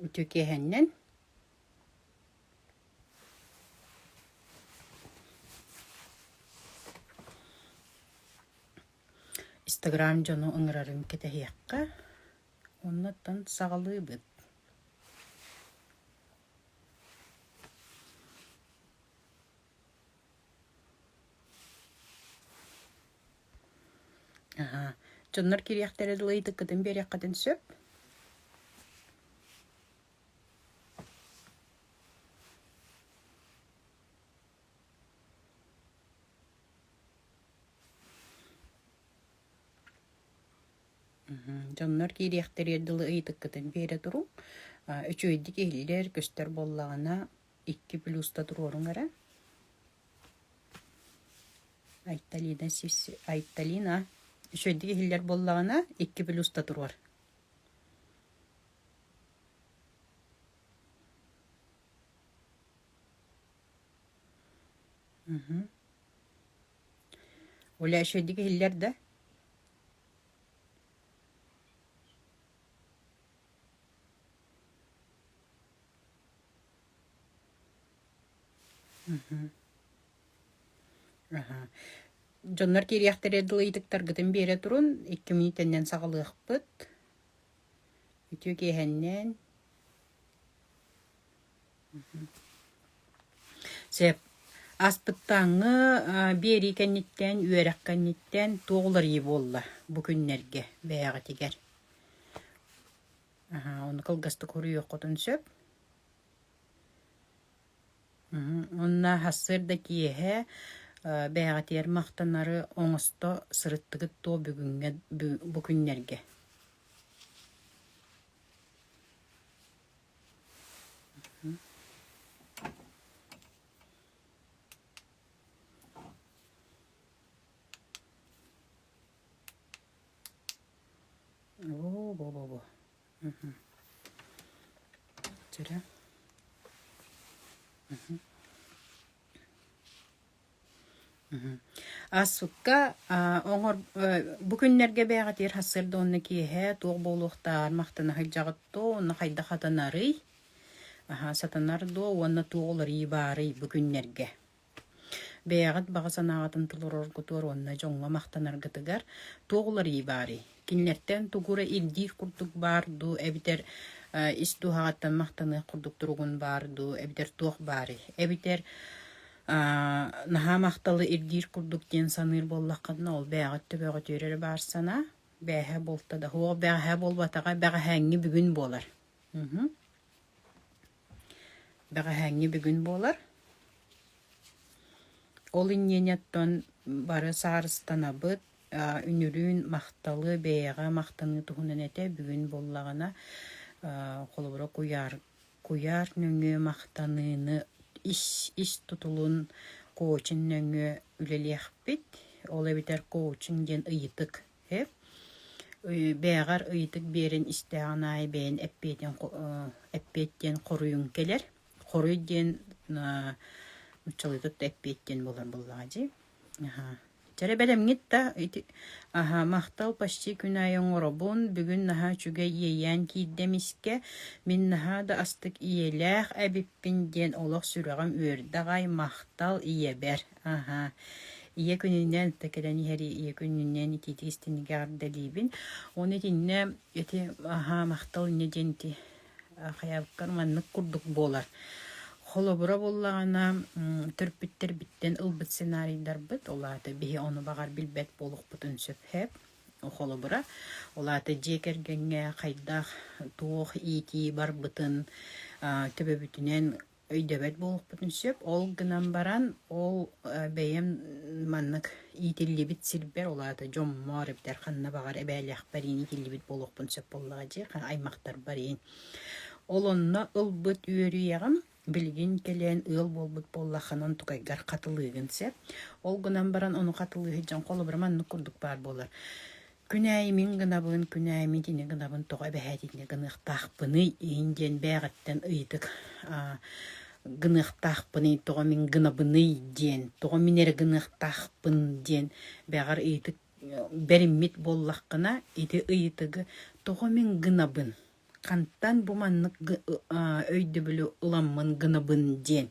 Үтүкэһиннэн Инстаграм дьону ыҥырарын кэтэһиэххэ оннуттан саҕалыыбыт Дьоннор кириэхтэрэ дылы ыйытыккытын биэриэххитин сөп. Дьоннор киириэхтэрэ дылы ыйытыккытын биэрэ туруҥ. Үчүгэйдик иһиллэр, көстөр буоллаҕына икки плюска туруоруҥ эрэ Айталина сис Айталина үчүгэйдик иһиллэр буоллаҕына икки плюска туруор Оля үчүгэйдик иһиллэр да Дьоннор киириэхтэрэ дылы ытыктаргытын биэрэ турун, икки мүнүүтэннэн саҕалыахпыт. Үтүө киэһэннэн. Сеп, аспыттааҥҥы биэрии кэнниттэн, үөрэх кэнниттэн туох уларыйыы буолла бу күннэргэ бэйэҕитигэр? Оны кылгастык уруйуоххутун сөп. Онно сарсыар да киэһэ бэйэҕитигэр махтанары оҥосто сырыттыгыт дуо бүгүҥҥэ бу күннэргэ? Оо, бо-бо-бо. Мгм. Дьэрэ. Мгм. Мгм. Ассукка а, оҥор э, бу күннэргэ бэйэҕитигэр сарсыарда уонна киэһэ туох буолуохтааҕар махтана сылдьаҕыттоо уонна хайдах атынарый? Аһаа, сатанар дуо уонна туох уларыы баарый бу күннэргэ? Бэйэҕит баҕа санааҕытын толороргутугар уонна дьоҥҥо махтанаргытыгар туох уларыйыы баарый? Кинилэртэн тугу эрэ ирдиир курдук баар дуу, эбэтэр э, ис дууһаҕыттан махтаныах курдук туругун баар дуу, эбэтэр туох баарый? Эбэтэр аа, наһаа махталы ирдиир курдук диэн саныыр буоллаххытына, ол бэйэҕит төбөҕүтүөр эрэ баар санаа. Бэҕэһээ буолта да, суох бэҕэһээ буолбатаҕа, бэҕэһээҥҥи бүгүн буолар. Мгм. Бэҕэһээҥҥи бүгүн буолар. Ол иннинэттэн бары саарыстанабыт. Үнүрүүн махталы, бэйэҕэ махтаныы туһунан этэ бүгүн буоллаҕына, холобура, куйаар куйаар нөҥүө махтаныыны ис тутулун коучинг нөҥүө үлэлиэхпит. Ол эбэтэр коучинг диэн ыйытык Эп бээҕэр ыйытык биэрэн истэҕин аайы бэйэҥ эппиэтин эппиэт диэн хоруйуҥ кэлэр. Хоруй диэн нууччалыытыт да эппиэт диэн буолар буоллаҕа дии. Чэрэ бэлэмҥит да ити махтал почти күн аайы оҥоробун. Бүгүн наһаа үчүгэй иэйээн киирдим искэ. Мин наһаа да астык ийэлээх эбиппин диэн олох сүрэҕим үөрдэ аҕай махтал ийэбэр. Аһа. Ийэ күнүнэн, да кэлэн иһэри ийэ күнүнэн итиити истинигэ ардалиибин. Оны итиннэ ити аһа махтал инне диэн ити хайабыккар маннык курдук буолар. Холобура буллаҕына төрпүттербиттен ылбыт сценарийдарбыт, олаата биһи ону баҕар билбэт буолукпутун сөпһеп. Холобура, олаата дьиэ кэргэҥҥэ хайдах туох иитии барбытын, төбөбүтүнэн өйдөбөт буолуохпутун сөп. Ол гынан баран ол бэйэм маннык иитиллибит сирбэр, ол аата дьоммор эбэтэр ханна баҕар эбээлээхпэр иин иитиллибит буолуохпун сөп буоллаҕа дии, аймахтарбар иин. Ол онно ылбыт үөрүйэҕим билигин кэлэн ыал буолбут буоллаххынан тукайгар хатылыыгын сөп. Ол гынан баран ону хатылыыһыт дьон холобура маннык курдук баар буолар: Күнээйи мин гынабын, күнээйимит ини гынабын тоҕо эбэһээт итини гыныахтаахпыный иһин диэн бэйэҕиттэн ыйытык аа, гыныахтаахпыный, тоҕо мин гынабыный диэн, тоҕо мин эрэ гыныахтаахпын диэн бэҕэр ыйытык бэриммит буоллаххына, ити ыйытыгы тоҕо мин гынабын, хантан бу маннык г- а, өйдөбүлү ыламмын гынабын диэн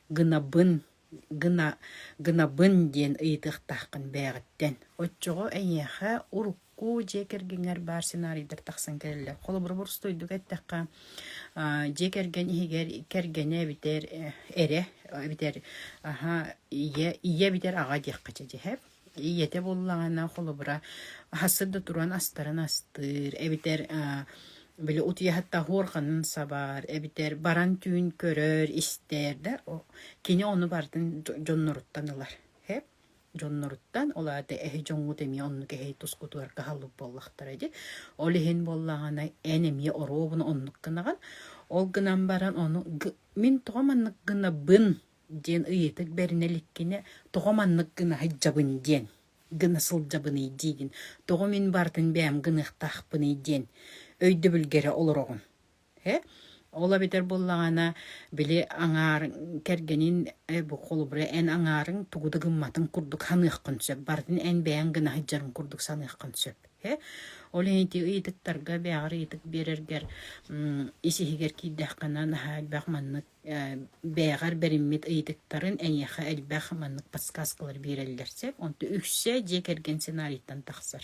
гынабын гына гынабын диэн ыйытыахтааххын бэйэҕиттэн. Оччоҕо эйиэхэ урукку дьиэ кэргэҥҥэр баар сценарийдар тахсан кэлэллэр. Холобура, боростуойдук эттэххэ, аа, дьиэ кэргэн иһигэр кэргэнэ эбитэр э, эрэ эбитэр аһа ийэ ийэ эбитэр аҕа диэххэ чэ дьэһэп. ийэтэ буоллаҕына холобура аһассыт да туран астарын астыыр эбэтэр били утуйаһыт таһыар ханын сабаар эбэтэр баран түүн көрөр истэр да кини ону бартын дьонноруттан ылар хэп дьонноруттан ол аата эһи дьоҥҥут эмиэ оннук эһи тускутугар каһаллык буоллахтара дии ол иһин буоллаҕына эн эмиэ оруобуна оннук гынаҕын ол гынан баран ону мин тоҕо маннык гынабын диэн ыйытык бэринэ иликкинэ тоҕо маннык гына сылдьабын диэн гына сылдьабыный диигин тоҕо мин барытын бэйэм гыныахтаахпыный диэн өйдөбүлгэ эрэ олороҕун э ол эбэтэр буоллаҕына били аҥаар кэргэнин э, бу холобура эн аҥаарыҥ тугу да гымматын курдук саныаххын сөп барытын эн бэйэҥ гына сылдьарын курдук саныаххын сөп э ол ити ыйытыктарга бэйэҕэр ыйытык биэрэргэр ис иһигэр киирдэххинэ наһаа элбэх маннык бэйэҕэр бэриммит ыйытыктарын эйиэхэ элбэх маннык подсказкалар биэрэллэр сөп онто үксэ дьиэ кэргэн сценарийтан тахсар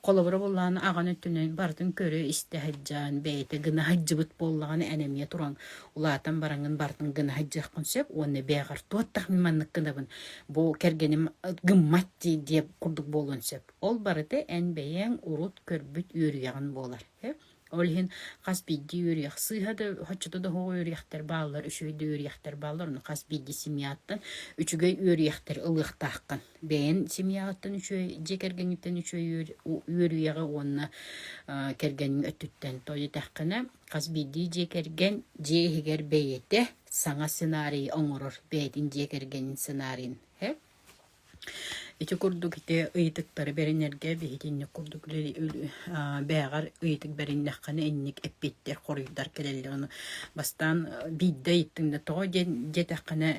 холобура буоллаҕына аҕаны өттүнэн барытын көрө истэ сылдьан бэйэтэ гына сылдьыбыт буоллаҕына эн эмиэ туран улаатан бараҥын барытын гына сылдьыаххын сөп уонна бэйэҕэр туох тахсан маннык гынабын бу кэргэним гыммат дии диэ курдук буолуон сөп ол барыта эн бэйэҥ урут көрбүт үөрүйэҕин буолар Ол иһин хас биирдии үөрүйэх сыыһа да, оччото да оһоҕо үөрүйэхтэр бааллар, үчүгэй да үөрүйэхтэр бааллар. Ону хас биирдии семьяттан үчүгэй үөрүйэхтэри ылыахтааххын. Бэйэн семьяҕыттан үчүгэй, дьиэ кэргэҥҥиттэн үчүгэй үөрүйэҕи уонна кэргэҥҥин өттүттэн тоҕо диэтэххинэ, хас биирдии дьиэ кэргэн дьиэ иһигэр бэйэтэ саҥа сценарийы оҥорор бэйэтин дьиэ кэргэнин сценарийын. Ити курдук ити ыйытыктары бэринэргэ биһиги инник курдук бээҕэр ыйытык бэриннэххинэ инник эппиэттэр хоруйдар кэлэллэр. Ону бастаан биирдэ ыйыттыҥ да тоҕо диэн диэтэххинэ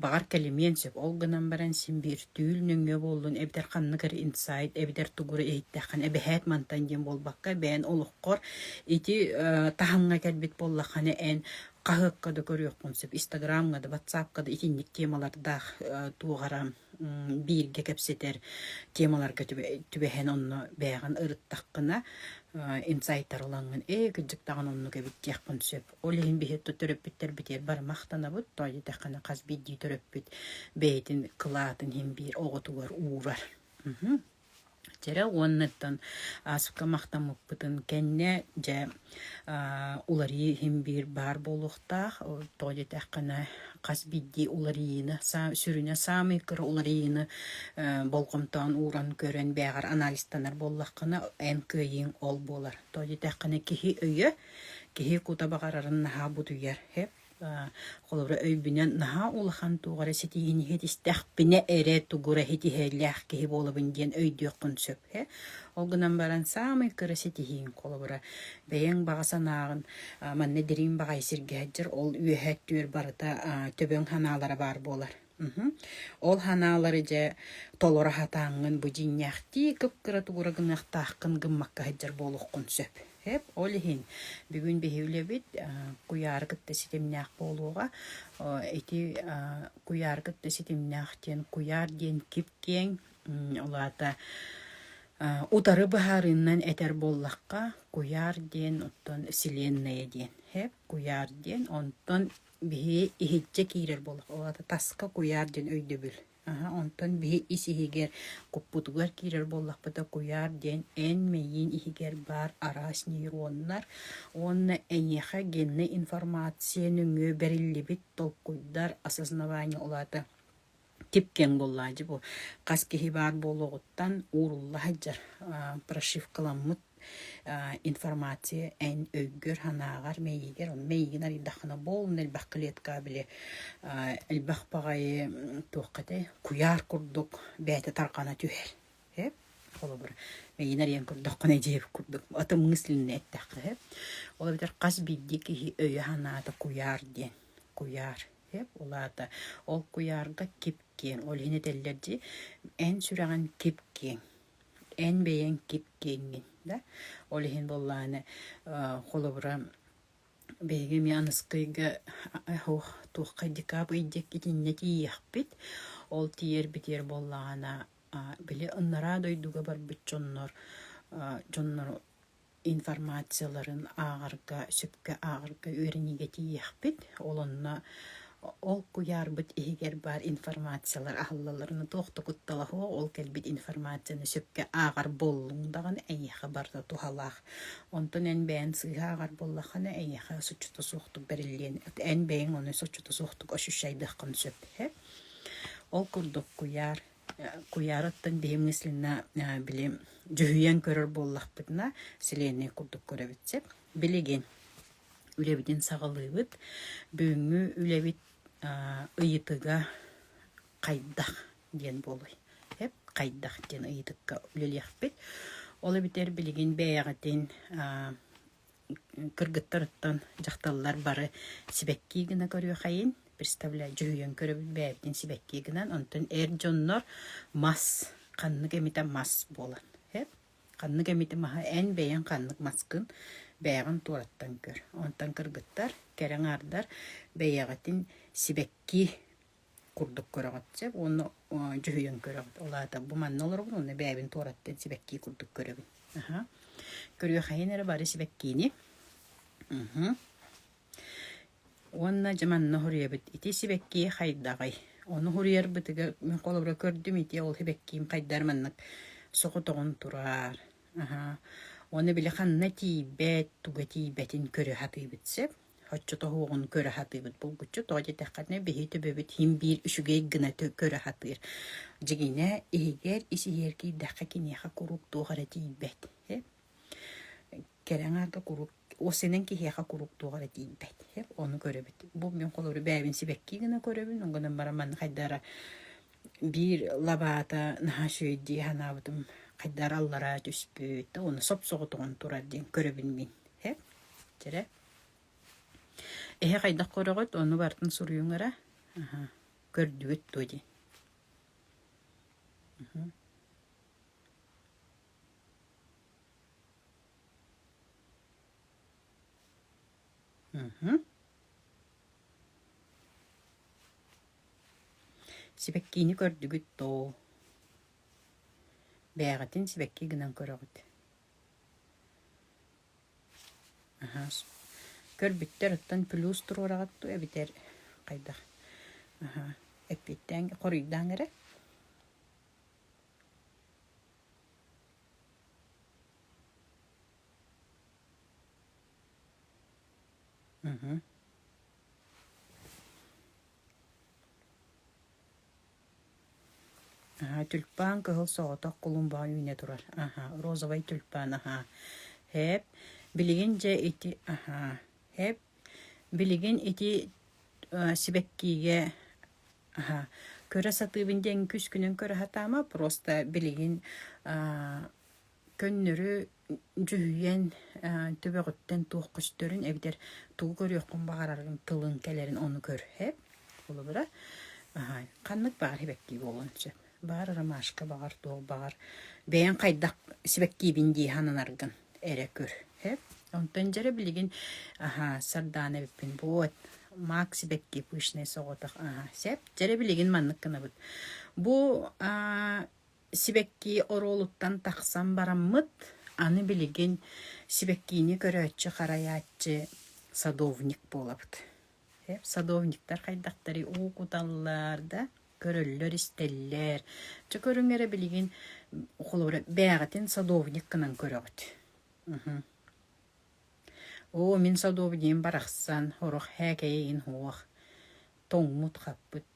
баҕар кэлимиэн сөп. Ол гынан баран син биир нөҥүө буоллун эбэтэр ханнык эрэ инсайт эбэтэр тугура иһиттэххинэ эбэһээт мантан диэн буолбакка бэйэн олоххор ити таһымҥа кэлбит буоллаххына эн хаһыакка да көрүөхпүн сөп. Инстаграмҥа да, ватсапка да итинник темалардаах туох эрэ бииргэ кэпсэтэр темаларга түбэһэн онно бэйэҕин ырыттаххына инсайтар ылаҥҥын ээ кырдьык даҕаны оннук эбит диэххин сөп. Ол иһин биһиэхэ төрөппүттэрбитигэр бары махтанабыт. Тоҕо диэтэххинэ хас биирдии төрөппүт бэйэтин кылаатын иһин биир оҕотугар уурар. Тирэ уонныттан аасыкка махтаммыппытын кэннэ дьэ уларыы иһин биир баар буолуохтаах. Тоҕо диэтэххинэ хас биирдии уларыйыыны сүрүнэ саамай кыра уларыйыыны болҕомтоҕун ууран көрөн бэйэҕэр анализтанар буоллаххына эн кыайыыҥ ол буолар. Тоҕо диэтэххинэ киһи өйө, киһи кута баҕарарын наһаа будуйар. Холобура, өйбүнэн наһаа улахан туох эрэ ситиһиини иһитистэхпинэ эрэ тугура ситиһиилээх киһи буолабын диэн өйдүөххүн сөп ээ. Ол гынан баран саамай кыра ситиһииҥ холобура бэйэҥ баҕа санааҕын а, манна дириҥ баҕайы сиргэ сылдьар ол үөһэ өттүгэр барыта а, төбөҥ санаалара баар буолар. Ол санаалары дьэ толоро сатааҥҥын бу дьиҥнээхтии кып-кыра тугура гыныахтааххын гыммакка сылдьар буолуоххун сөп. Эп ол иһин бүгүн биһи үлэбит куйаары кытта ситимнээх буолуоҕа. Ити куйаары кытта ситимнээх диэн куйаар диэн кип-киэҥ ол аата утары быһаарыынан этэр буоллахха куйаар диэн оттон вселенная диэн эп куйаар диэн онтон Биһи иһитчэ киирэр буоллах, ол аата таска куйаар диэн өйдөбүл. Аһа, онтон биһи ис иһигэр, куппутугар киирэр буоллахпыта, куйаар диэн эн мэйиин иһигэр баар араас нейроннар уонна эйиэхэ геннай информация нөҥүө бэриллибит толкуйдар осознавание, ол аата тип-киэҥ буоллаҕа дии бу хас киһи баар буолуоҕуттан уурулла сылдьар прошивкаламмыт информация эн өйгөр-санааҕар мэйиигэр мэйиигин арыйдаххына буолунна элбэх клеткаҕа били элбэх баҕайы туохха этэй куйаар курдук бэйэтэ тарҕана түһэр эп холобур мэйиин арыйан көрдөххүнэ дьиэ курдук атын мыслинни эттэххэ эп ол эбэтэр хас биирдии киһи өйө-санаата куйаар диэн куйаар Сөп, ол аата ол куйаарга кип-киэҥ, ол иһин этэллэр дии, эн сүрэҕиҥ кип-киэҥ, эн бэйэҥ кип-киэҥҥин, да? Ол иһин буоллаҕына, холобура, биһиги эмиэ Аныскыйга оһох туоххай декабрь-дик итиннэ тиийиэхпит, ол тиийэр-битиэр буоллаҕына, били анараа дойдуга барбыт дьоннор дьоннор информацияларын ааҕарга сөпкө ааҕарга үөрэниигэ тиийиэхпит. Ол онно ол куйаарбыт иһигэр баар информациялар аһыллалларына туох да кутталаһыа, ол кэлбит информацияны сөпкө ааҕар буоллуҥ даҕаны эйиэхэ барыта туһалаах. Онтон эн бэйэн сыыһа ааҕар буоллаххына эйиэхэ соччото суохтук бэриллиэн, эн бэйэҥ ону соччото суохтук ощущайдыаххын сөп иһэ. Ол курдук куйаар Куйаара оттон биһимҥэ Слина били дьүһүйэн көрөр буоллахпытына сэлиэнньэ курдук көрөбүт сөп. Билигин үлэбитин саҕалыыбыт. Бүгүҥҥү үлэбит ыйытыга хайдах диэн буолуой? Эп хайдах диэн ыйытыкка үлэлиэхпит. Ол эбэтэр билигин бэйэҕитин кыргыттарыттан дьахталлар бары сибэкки гына көрүөхэйин, представляй, дьүһүйэн көрөбүт бэйэбитин сибэкки гынан, онтон эр дьоннор мас, ханнык эмитэ мас буолан. ханнык эмити маһы эн бэйэҥ ханнык маскын бэйэҕин туораттан көр. Онтон кыргыттар, кэрэ аҥаардар бэйэҕитин сибэкки курдук көрөҕүт чэ уонна дьүһүйэн көрөҕүт ол аата бу манна олоробун уонна бэйэбин туораттан сибэккии курдук көрөбүн аха көрүөхэйин эрэ бары сибэккиини уонна дьэ манна уһуруйабыт ити сибэккии хайдаҕый ону уһуруйарбытыгар мин холобура көрдүм ити ол сибэккиим хайдар маннык соҕотоҕун тураар аха уонна били ханна тиийбэт туга тиийбэтин көрө сатыыбыт сөп Оччото уоҕун көрө сатыыбыт. Булгуччу тоҕо диэтэххинэ, биһи төбөбүт иһин биир үчүгэй гына тө- көрө сатыыр. Дьигинэ иһигэр ис-иһигэр киирдэххэ киниэхэ куруук туох эрэ тиийбэт, һэ? Кэлэҥ аата куруук уос сэнэн киһиэхэ куруук туох эрэ тиийбэт, һэ? Ону көрөбүт. Бу мин холору бэйэбин сибэкки гына көрөбүн, ол гынан баран манна хайдах эрэ Биир лабаата наһаа үчүгэй дии санаабытым хайдары аллараа түспүт, уонна соп-соҕотоҕун турар диэн көрөбүн мин, ээ, дьэрэ. Эһэ хайдах көрөҕүт, ону барытын суруйуҥара, аһа, көрдүгүт дуо дии. Сибэккиини көрдүгүт доо? Бээҕитин сибэкки гынан көрөҕүт. Аһа, көрбүттэр оттон плюс туруораҕыт дуу эбэтэр хайдах? Аһа, эппиэттээҥ, хоруйдааҥ эрэ. Аһа, тюльпан кыһыл соҕотох кулумбаҕа үүнэ турар. Аһа, розовай тюльпан, аһа. Һээп, билигин дьэ ити, аһа. Һээп, билигин ити э, сибэккиигэ, аһа. Көрө сатыыбын диэн күс күнүн көрө сатаама, просто билигин э, Көннөрү дьүһүйэн төбөҕүттэн туох көстөрүн эбэтэр тугу көрүөххүн баҕарарыҥ тылын кэлэрин ону көрһөп, холобура ханнык баар сибэккии буолуон сөп. Баар ромашка баҕар туох баҕар бэйэҥ хайдах сибэккиибин дии сананаргын эрэ көрһөп. Онтон дьэ эрэ билигин сардаана эбиппин вот мак сибэкки пышный соҕотох сөп. Дьэ эрэ билигин маннык гынабыт. Бу сибэккии оруолуттан тахсан бараммыт, аны билигин сибэккиини көрөөччү, харайааччы садовник буолабыт. Садовниктар хайдахтарый уу куталлар да, көрөллөр-истэллэр. Чэ көрүҥ эрэ билигин холобура бээҕитин садовник гынан көрөҕүт. Оо мин садовнигым барахсан, орох һээкэйэ иһин һуох тоҥмут-хаппыт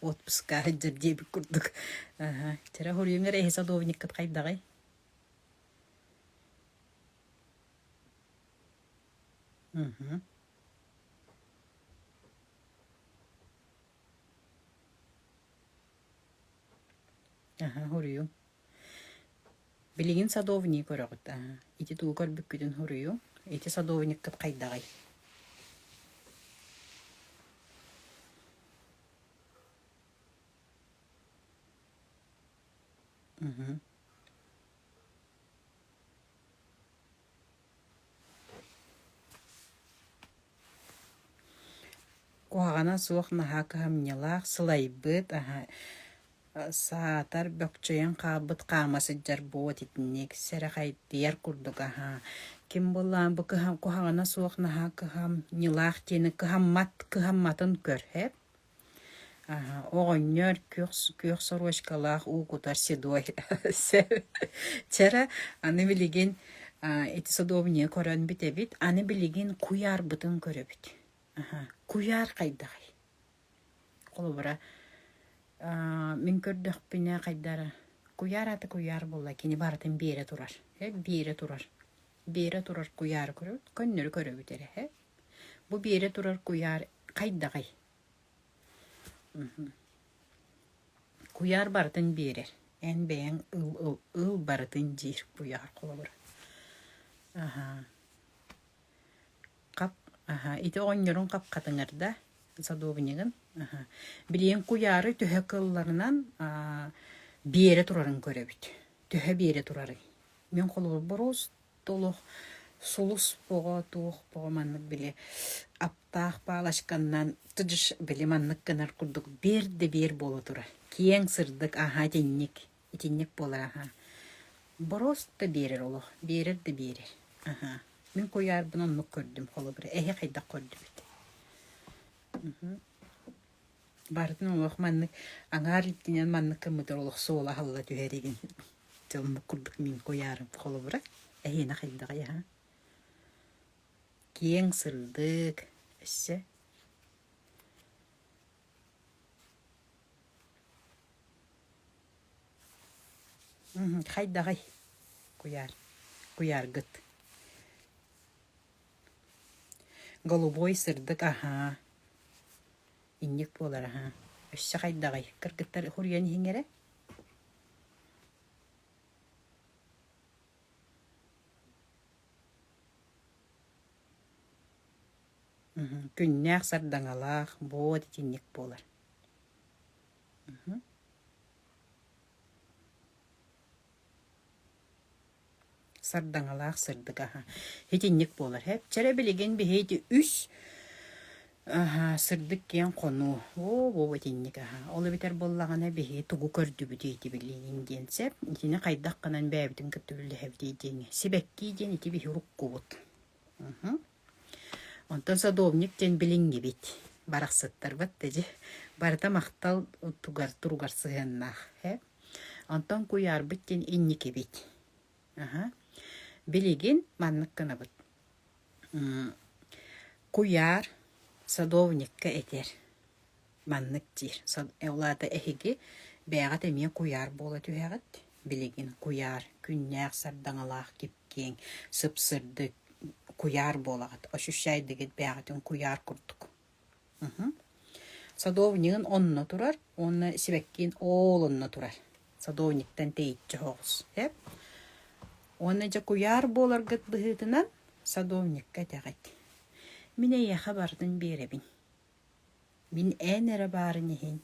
отпуска сылдьар диэбит курдук вчера хоруйуҥар эһи садовниккыт хайдаҕый угу аха хоруйуҥ Билигин садовнигы көрөҕүт аа, ити дуу көрбүккүтүн суруйуҥ, ити садовниккыт хайдаҕый Куһаҕана суох наһаа кыһамньылаах, сылайбыт, саатар бөкчөйөн хаалбыт хаама сылдьар буолуот итинник, сэрэхэйдийэр курдук аһа. Ким буоллаҕа бу кыһа куһаҕана суох наһаа кыһамньылаах диэни кыһаммат кыһамматын көр, эп? Оҕонньор күөх күөх сорочкалаах уу кутар седой Чара аны билигин ити содуобунньугу көрөн бүтэбит аны билигин куйаарбытын көрөбүт куйаар хайдаҕый холобура мин көрдөхпүнэ хайдара куйаар аата куйаар буолла кини барытын биэрэ турар биэрэ турар биэрэ турар куйаары көрөбүт көннөрү көрөбүт эрэ Бу биэрэ турар куйаар хайдаҕый? Куйаар барытын биэрэр. Эн бэйэҥ ыл, ыл, ыл барытын диир куйаар холобура. Аһа. Хап, аһа. Ити оҕонньорун хапхатыҥар да садуобунньугун. Аһа. Билигин куйаары төһө кылларынан аа биэрэ турарын көрөбүт. Төһө биэрэ турарын. Мин холобур, боруос Олох сулус оҕо туох оҕо маннык били аптаах палочканнан тыдыш били маннык гынар курдук биэр да биэр буола турар киэҥ сырдык аһа итинник итинник буолар аһа бороос да биэрэр олох биэрэр да биэрэр аһа мин куйаарбын оннук көрдүм холобура эһи хайдах көрдүбүт Барытын уҥуох маннык аҥаар илтинэн маннык гыммытыгар олох суола аһылла түһэр игин. Тылмык курдук мин куйаарым холобура эһиэнэ хайдаҕый аха киэҥ сырдык өссө хайдаҕый куйаар куйааргыт Голубой сырдык аһаа, инньик буолар аһаа, өссө хайдаҕый? Кыргыттар уһуруйан иһиҥ эрэ. Мм, күннээх сардаҥалаах, бод итинник буолар. Мм. Сардаҥалаах сырдык аһа. Итинник буолар. Эпчэрэ билигин биһиги үс аһа сырдык киэҥ хонуу. Оо, бу итинник аһа. Ол эбэтэр буоллаҕына биһиги тугу көрдүбүтүй ити билиниҥ диэн сэп. Итини хайдах гынан бэйэбитин кытта үллэһэбитий диэҥ. Сибэккии диэн ити биһи уруккубут. Мхм. Онтон садовник диэн билиҥҥибит. Барахсаттарбыт да дьэ барыта махтал тугар туругар сыһыаннаах. Онтон куйаарбыт диэн инникибит. Аһа. Билигин маннык гынабыт. Куйаар садовникка этэр. Маннык диир. Ол аата эһиги бэйэҕит эмиэ куйаар буола түһэҕит. Билигин куйаар күннээх сардаҥалаах кипкиэҥ, сыпсырдык куйаар буолаҕыт. Ощущай дигит бэйэҕитин куйаар курдук. Садовнигын онно турар уонна сибэккиин оол онно турар. Садовниктан тэйиччи оһоҕос эп. Уонна дьэ куйаар буоларгыт быһыытынан садовникка этэҕит. Мин эйиэхэ барытын биэрэбин. Мин эн эрэ баарын иһин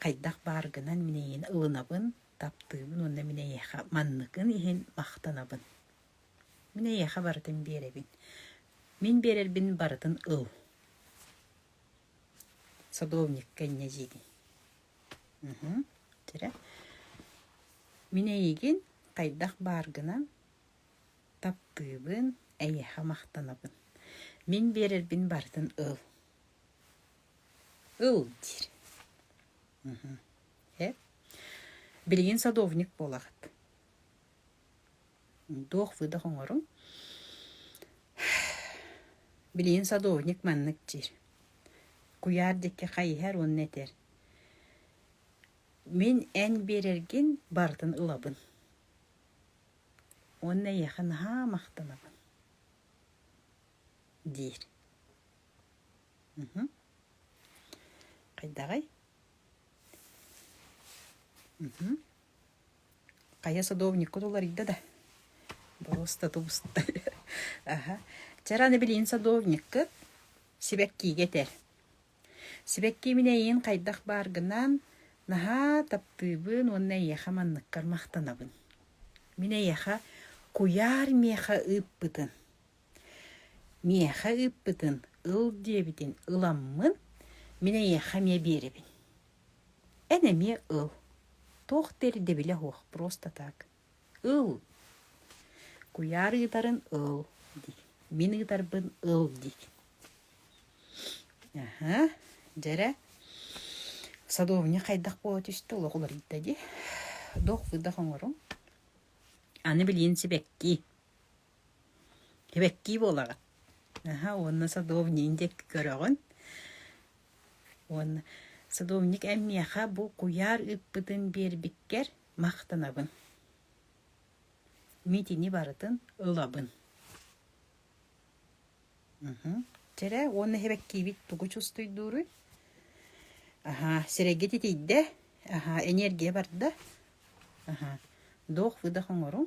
хайдах баар гынан мин эйиэхэ ылынабын, таптыыбын уонна мин эйиэхэ манныкын иһин махтанабын. Мин эйиэхэ барытын биэрэбин. Мин биэрэрбин барытын ыл. Садовникка инньэ диини. Уһун. Тирэ. Мин эйигин хайдах баар гынан таптыыбын, эйиэхэ махтанабын. Мин биэрэрбин барытын ыл. Ыл диир. Эп. Билигин садовник буолаҕыт. Туох сыдах оҥорум? Билигин садовник маннык диир. Куйаар диэки хайыһар уонна этэр, мин эн биэрэргин барытын ылабын. Уонна эйиэхэ наһаа махтанабын, диир. Хайдаҕый? Хайа садовниккут уларыйда да, боруос да тубуста аха Чэ ыраны билигин садовниккыт сибэккиигэ этэр. Сибэкки мин эйиин хайдах баар гынаан наһаа таптыыбын уонна эйиэхэ манныккар махтанабын. Мин эйиэхэ куйаар миэхэ ыыппытын, миэхэ ыыппытын ыл диэбитин ыламмын, мин эйиэхэ эмиэ биэрэбин. Эн эмиэ ыл, туох да ирдэбилэ суох просто так. Ыл. Куйаар ыытарын ыл дии. Мин ыытарбын ыл дии. Аха, дьэрэ, садовня хайдах буола түстэ, олох уларыйда дии. Дох-будах оҥоруҥ. Аны билиэн сибэкки. Эбэктии буолаҕыт. Аһа, уонна садовнигын диэки көрөҕүн. Уонна садовник эн миэхэ бу куйаар ыппытын биэрбиккэр махтанабын. Мин итини барытын ылабын. Чэрэ, уонна эбэктиибит тугу чувствуйдууруй? Аһаа, сирэйгэ титийдэ. Аһаа, эниэргийэ барда. Аһаа, дуох-выдох оҥоруҥ.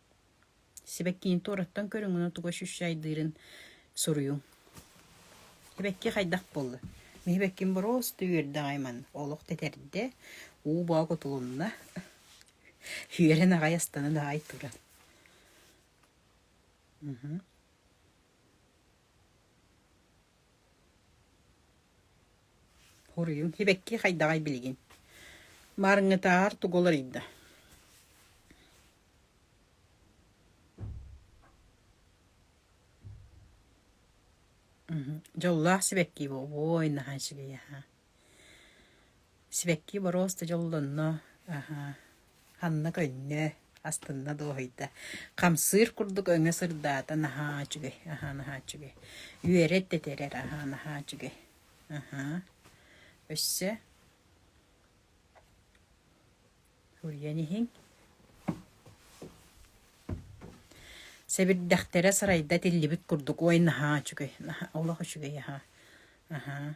Сибэккиини туораттан көрүҥүнэ тугу ощущайдыырын суруйуҥ. Сибэкки хайдах буолла? Мин сибэкким бороостуу үөрдэҕэй манна. Олох тэтэрдэ, уу баа кутулунна, үөрэн аҕай астынан аҕай туран. Уруйум сибэкки хайдаҕай билигин маарыҥытаар тугу уларыйда дьоллоох сибэкки буолуо наһаа үчүгэй аһаа Сибэкки боруос да дьоллонно, ханна көннө, астынна дуоһуйда. Хамсыыр курдук өҥө сырдаата наһаа үчүгэй, аһаа наһаа үчүгэй. Үөрэр да тирэр, аһаа наһаа үчүгэй. Өссө суруйан иһиҥ. Сэбирдэхтэрэ сарайда тиллибит курдук, ой наһаа үчүгэй, олох үчүгэй аһаа.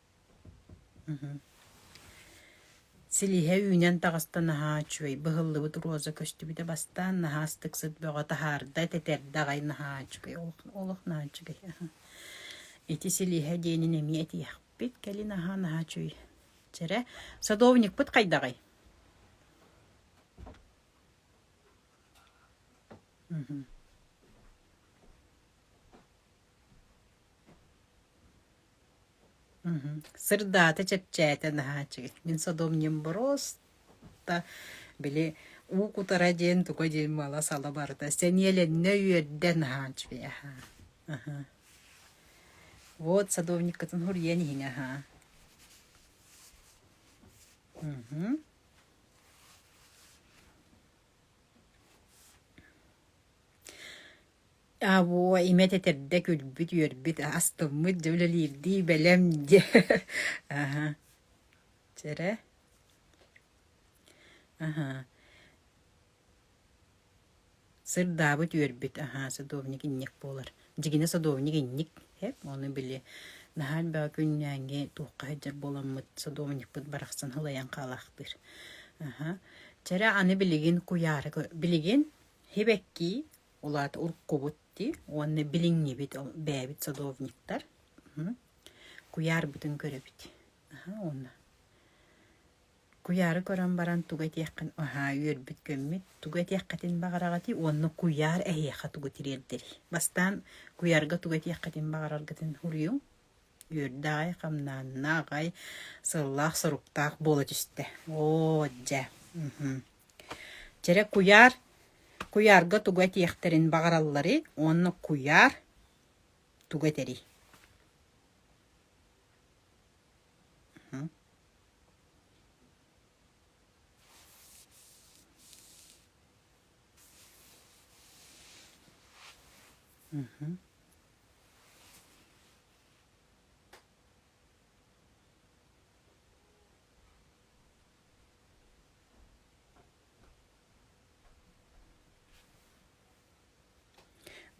Силииһэ үүнэн таҕыста наһаа үчүгэй быһыллыбыт роза көстүбүтэ бастаан наһаа ыстык сыт бөҕө таһаарда тэтэрдэ аҕай наһаа үчүгэй олох олох наһаа үчүгэй ити силииһэ диэнин эмиэ этиэхпит кэлин аһаа наһаа үчүгэй чэрэ садовникпыт хайдаҕый Мгм. Сырдаата чэпчээтэ наһааччыгый. Мин содомньум боруоста били уу кутара диэн туга диэн мала-сала барыта сэниэлэннэ үөрдэ наһааччыый аһаа. Аха. Вот садовниккытын хуруйан иһиҥ аһаа. Мгм. Абуо, имэт этэрдэ күлбүт, үөрбүт, астыммыт, дьэ үлэлиирдии бэлэм дьэ аһа чэрэ аһа сырдаабыт, үөрбүт аһаа садовник инник буолар. Дьигинэ садовник инник эп ону били наһаа элбэҕи күннээҥҥи туохха сылдьар буоламмыт садовникпыт барахсан сылайан хаалаахтыыр. Аһа чэрэ аны билигин куйаары билигин Сибэкки улаата уруккубут дии уонна билиҥҥибит бэйэбит садовниктар куйаарбытын көрөбүт уонна куйаары көрөн баран тугу этиэххин аһаа үөрбүт күммүт тугу этиэххитин баҕараҕытый уонна куйаар эһиэхэ тугу тириэрдэрий бастаан куйаарга тугу этиэххитин баҕараргытын суруйуҥ Үөрдэ аҕай хамнаанна, аҕай сыллаах-соруктаах буола түстэ. Оо, дьэ, Чэрэ куйаар куйаарга тугу этиэхтэрин баҕаралларый уонна куйаар тугу этэрий?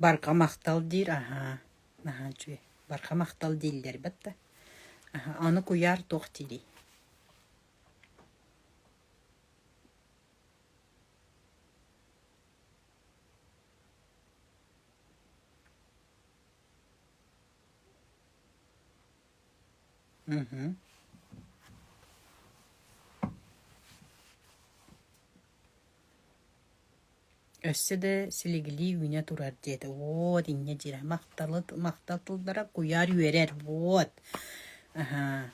Барҕа махтал диир аһаа наһаа үчүгэй барҕа махтал дииллэр бат да аһа аны куйаар туох диирий Мгм. Өссө да силигилии үүнэ турар диэтэ. Уот инньэ дьире махталыт махтал тыллара куйаар үөрэр. Уот. Аһаа.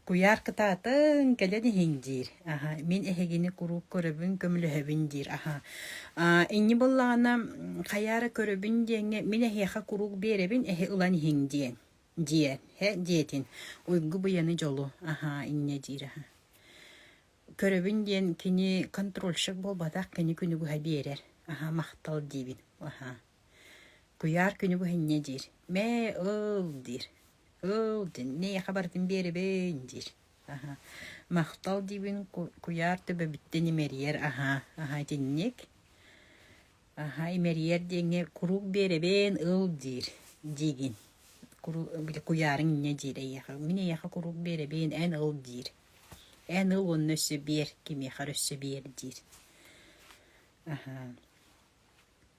Куйаар кытаатыҥ, кэлэн иһиҥ диир. Аһа, мин эһигини куруук көрөбүн, көмөлөһөбүн диир. Аһа, аа, инньэ буоллаҕына, м, хайа эрэ көрөбүн диэҥҥэ, мин эһиэхэ куруук биэрэбин, эһи ылан иһиҥ диэҥ. диэн. Һэ, диэтин. Уйгу-быйаны дьолу. Аһа, инньэ диир аһа. Көрөбүн диэн кини контрольщик буолбатах, кини күнү быһа биэрэр. Аһа, махтал диибин. Аһа. Куйаар күнү быһыння диир, «Мээ, ыл» диир, «Ыл, дэннэй, аха барытын биэрэбин» диир, аһа. Махтал диибин куйаар төбөбүттэн имэрийэр аһа, аһа итинник. Аһа имэрийэр диэҥҥэ куруук биэрэбин, ыл диир, диигин. Куруук били куйаарыҥ инньэ диир эйиэхэ, мин эйиэхэ куруук биэрэбин, эн ыл диир. Эн ыл уонна өссө биэр, кимиэхэ эрэ өссө биэр диир. Аһа.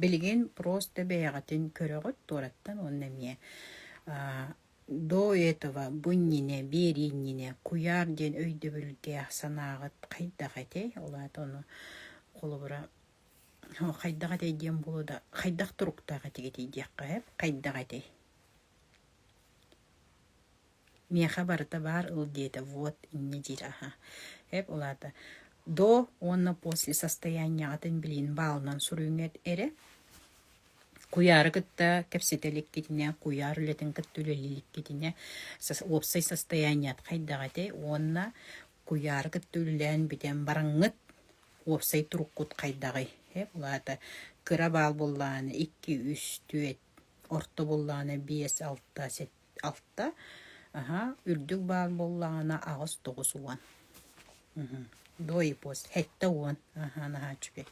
Билигин просто бэйэҕитин көрөҕүт туораттан уонна эмиэ до этого бу иннинэ биэрии иннинэ куйаар диэн өйдөбүллээх санааҕыт хайдах этэй? Ол аата ону холобура хайдах этэй диэн буолуо да хайдах туруктаах этигит диэххэ сөп. Хайдах этэй? миэхэ барыта баар ыл диэтэ вот инньэ диир аһа эп ол аата до уонна после состояниеҕытын билин баалынан суруйуҥэт эрэ куйаары кытта кэпсэтэ иликкитинэ куйаар үлэтин кытта үлэлииликкитинэ уопсай состояниет хайдах этэй уонна куйаары кытта үлэлээн бүтэн бараҥҥыт уопсай туруккут хайдаҕый эп ол аата кыра баал буоллаҕына икки үс түөрт орто буоллаҕына биэс алта Алта, аһаа, үрдүк баар буоллаҕына аҕыс тоҕус уон. Мм. Двоепос, эттэ уон. Аһаа, наһаа үчүгэй.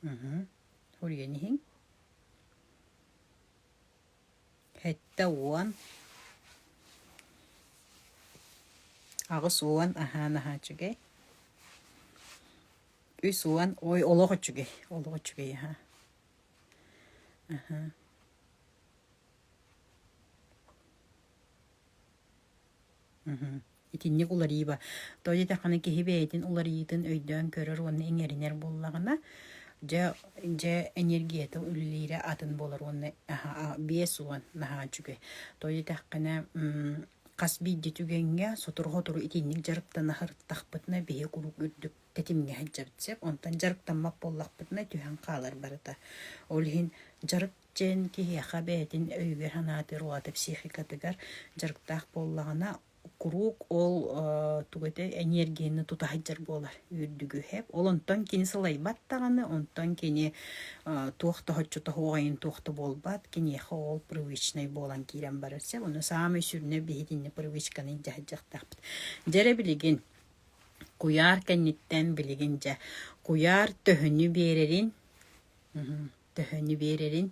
Мм. Уруйан иһиҥ. Сэттэ уон аҕыс уон аһаан аһаан үчүгэй үс уон ой олох үчүгэй олох үчүгэй аһаа аһаа мм итинник уларыйыба. Той даҕаны киһи бэйэтин уларыйыытын өйдөөн көрөр уонна иҥэринэр буоллаҕына, дьэ дьэ энергията үлэлиирэ атын буолар уонна биэс уон наһаа үчүгэй. Той дэтэххинэ хас биирдии түгэҥҥэ сотору-сотору итинник дьарыктана сырыттахпытына биһи куруук үрдүк тэтимҥэ сылдьабыт сөп. Онтон дьарыктаммат буоллахпытына түһэн хаалар барыта. Ол иһин дьарык Дьэн киһиэхэ бэйэтин өйүгэр-санаатыгар уота психикатыгар дьарыктаах буоллаҕына, куруук ол тугу этэй эниэргийэни тутаһайдьар буолар үрдүгүһэп. Ол онтон кини сылайбат даҕаны, онтон кини туох да хоччото оҕайын туох да буолбат, киниэхэ ол привычнай буолан киирэн барар сеп. Ону саамай сүрүнэ биһитинни привычканы дьаһайдьахтаахпыт. Дьэрэ билигин куйаар кэнниттэн билигин дьэ куйаар төһөнү биэрэрин төһөнү биэрэрин.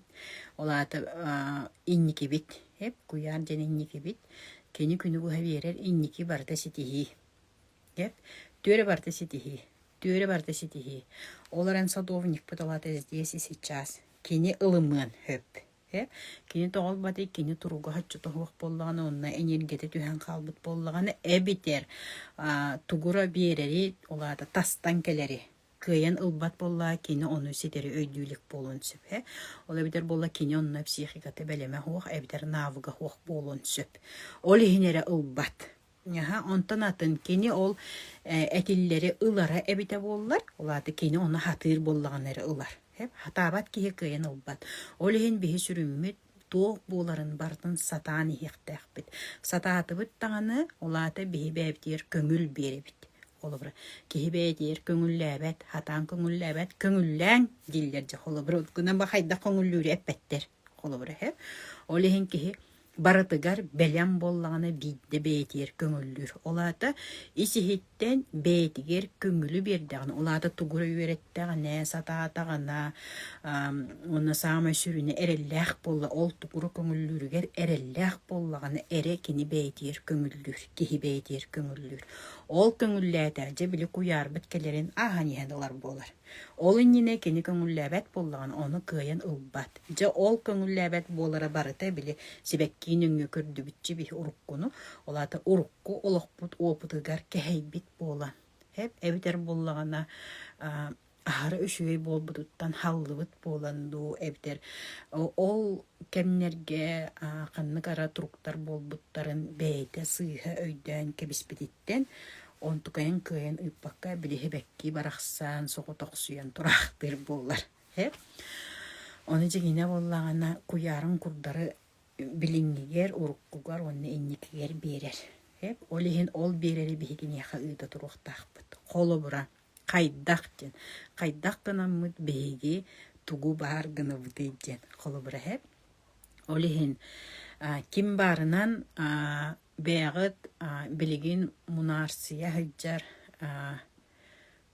Ол аата инникибит, эп куйаар диэн инникибит, кини күнү быһа биэрэр инники барыта ситиһии. Эп түөрэ барыта ситиһии, түөрэ барыта ситиһии. Ол эрэн садовникпыт ол аата здесь и сейчас. Кини ылымыан хөп. Кини тоҕолбаты, кини туруга хаччыта суох буоллаҕына, онно энергията түһэн хаалбыт буоллаҕына, эбитэр тугура биэрэри, ол аата тастан кэлэри кыайан ылбат буолла, кини ону ситэри өйдүү буолуон сөпө. Ол эбэтэр буолла кини онно психиката бэлэмэ суох эбэтэр навыга суох буолуон сөп. Ол иһин эрэ ылбат. Онтон атын кини ол этиллэри ылара эбитэ буоллар, ол аата кини ону хатыыр буоллаҕына эрэ ылар. Хатаабат киһи кыайан ылбат. Ол иһин биһи сүрүммүт туох буоларын барытын сатаан иһиэхтээхпит. Сатаатыбыт даҕаны, ол аата биһи бэйэбитигэр көҥүл биэрэбит. Холобура, киһи бэйэтигэр көҥүллээбэт, хатаан көҥүллээбэт, көҥүллээҥ дииллэр дьэ. Холобура, гынан ба хайдах көҥүллүүрү эппэттэр. Холобура иһэ. Ол иһин киһи барытыгар бэлэм буоллаҕына биирдэ бэйэтигэр көҥүллүүр. Ол аата ис иһит Эн бэйэтигэр көҥүлү биэрдэҕинэ, улаата тугу эрэ үөрэттэҕинэ, сатаатаҕына, уонна саамай сүрүнэ эрэллээх буолла, ол тугу көҥүллүүрүгэр эрэллээх буоллаҕына эрэ кини бэйэтигэр көҥүллүүр, киһи бэйэтигэр көҥүллүүр. Ол көҥүллээтэҕинэ, дьэ били куйаарбыт кэлэрин ааһан иһэн ылар буолар. Ол иннинэ кини көҥүллээбэт буоллаҕына, ону кыайан ылбат. Дьэ, ол көҥүллээбэт буолара барыта били сибэккии нөҥүө көрдүбүччэ биһи уруккуну, ол аата урукку олохпут уопутугар кэһэйбит буолан, эп эбэтэр буоллаҕына аһара үчүгэй буолбутуттан хааллыбыт буолан дуу эбэтэр ол кэмнэргэ ханнык ара туруктар буолбуттарын бэйэтэ сыыһа өйдөөн кэбиспититтэн онтукайын кыайан ыыппакка билиһибэккии барахсан соҕотохсуйан тураахтыыр буоллар э ону дьиҥинэ буоллаҕына куйаарын курдары билиҥҥигэр уруккугар уонна инникигэр биэрэр э ол иһин ол биэрэри биһи киниэхэ ыыта туруохтаахпыт холобура Хайдах диэн, хайдах гынаммыт биһиги тугу баар гынабытый диэн холобур эһэм. Ол иһин ким баарынан бэйэҕит билигин мунаарсыйа сылдьар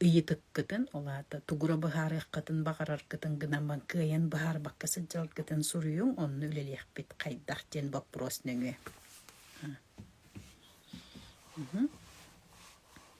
ыйытыккытын, ол аата тугура быһаарыаххытын баҕараргытын гынан кыайан быһаарбакка сылдьаргытын суруйуҥ, онно үлэлиэхпит. Хайдах диэн боппуруос нөҥүө.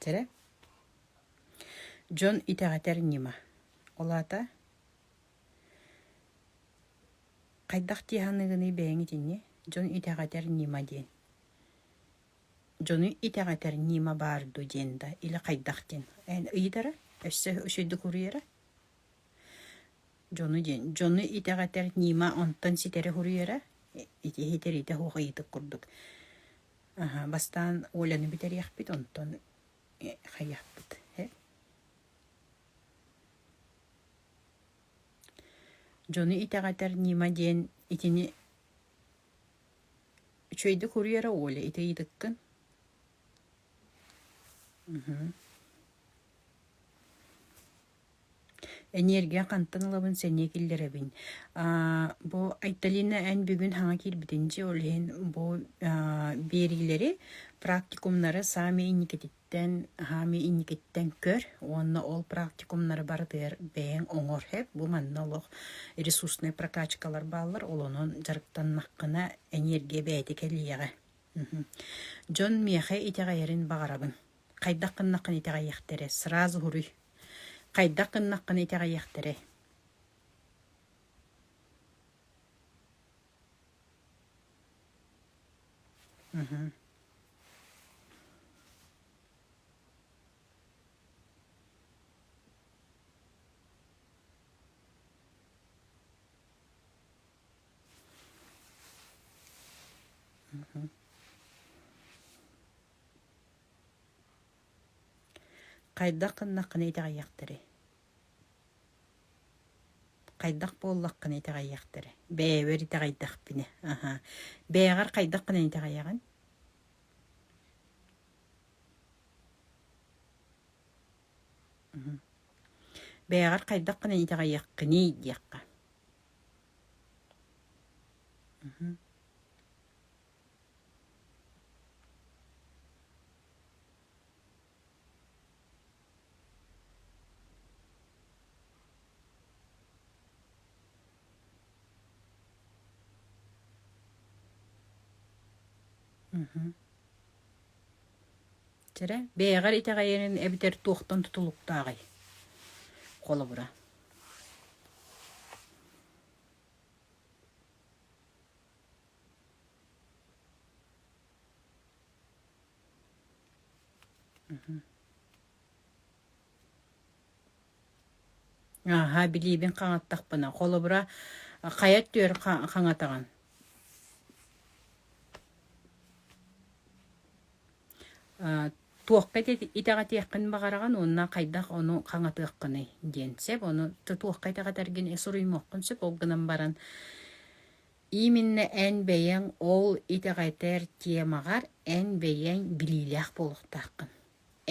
Тәрэ дьон итэҕэтэр ньыма. Ол аата хайдах дии саныыгыный бэйэҥ итинни дьон итэҕэтэр ньыма диэн. дьону итэҕэтэр ньыма баар дуу диэн да или хайдах диэн эн ыйытара өссө үчүгэйдик уруйара дьону диэн дьону итэҕэтэр ньыма онтон ситэрэ уруйара ити итэриитэ суох ыйытык курдук аха бастаан Оляны бүтэриэхпит онтон хайыахпыт э дьону итэҕэтэр ньыма диэн итини Үчүгэйдик уруй эрэ, Оля, ити ыйытыккын. Эниэргийэ хантан ылабын сэниэ киллэрэбин. бу Айталина эн бүгүн саҥа киирбитин дии, ол иһин бу биэриилэри, практикумнары саамай инникититтэн Эн хаамыы инникиттэн көр уонна ол практикумнары барытыгар бэйэҥ оҥор. Эп бу манна олох ресурсная прокачкалар бааллар, ол онон дьарыктаннаххына эниэргия бэйэтэ кэлиэҕэ. Дьон миэхэ итэҕэйэрин баҕарабын. Хайдах гыннаххына итэҕэйиэхтэрэ сразу суруй. Хайдах гыннаххына итэҕэйиэхтэрэй? Mm-hmm. Хайдах кыннакыны итэҕэйэхтэрий Хайдах буоллаххына итэҕэйиэхтэрэ. Бэйэбэр итэҕэйдэхпинэ, аһаа, бэйэҕэр хайдаххына итэҕэйэҕин? Бэйэҕэр хайдаххына итэҕэйиэххиний диэххэ. Чэрэ, бэйэҕэр итэҕэйэрин эбэтэр туохтан тутулуктааҕый? Холобура. Ааһа, билиибин хаҥаттахпына, холобура, хайа түөр хаҥатаҕын? туохка итэҕэтиэххин баҕараҕын уонна хайдах ону хаҥатыаххыный диэн сөп, ону туохха итэҕэтэргин суруйумуоххун сөп, ол гынан баран Именно эн бэйэҥ ол итэҕэтэр темаҕар эн бэйэҥ билиилээх буолуохтааххын.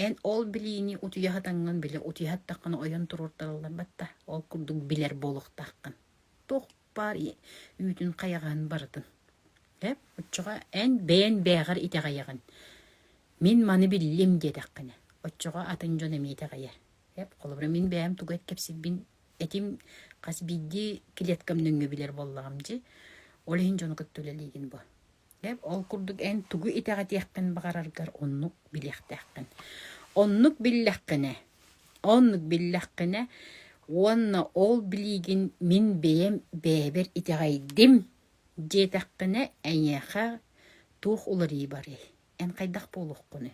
Эн ол билиини утуйа сатаҥҥын билэ утуйа саттаххына ойон туруортараллар батта. Ол курдук билэр буолуохтааххын. Туох баар үүтүн хайаҕаһын барытын. Э оччоҕо эн бэйэн бэйэҕэр итэҕэйэҕин. Мин маны биллим диэтэххинэ. Оччоҕо атын дьон эмиэ итэҕэйэр. Эп, холобура, мин бэйэм тугу кэпсирбин этим хас биирдии клеткам нөҥгө билэр буоллаҕым дии. Ол иһин дьону кытта үлэлиигин бу. Эп, ол курдук эн тугу итэҕэтиэххин баҕараргар оннук билиэхтээххин. Оннук биллэххинэ, оннук биллэххинэ уонна ол билиигин мин бэйэм бэйэбэр итэҕэйдим диэтэххинэ, эйиэхэ туох уларыы барый? Эн хайдах буолуоххунуй?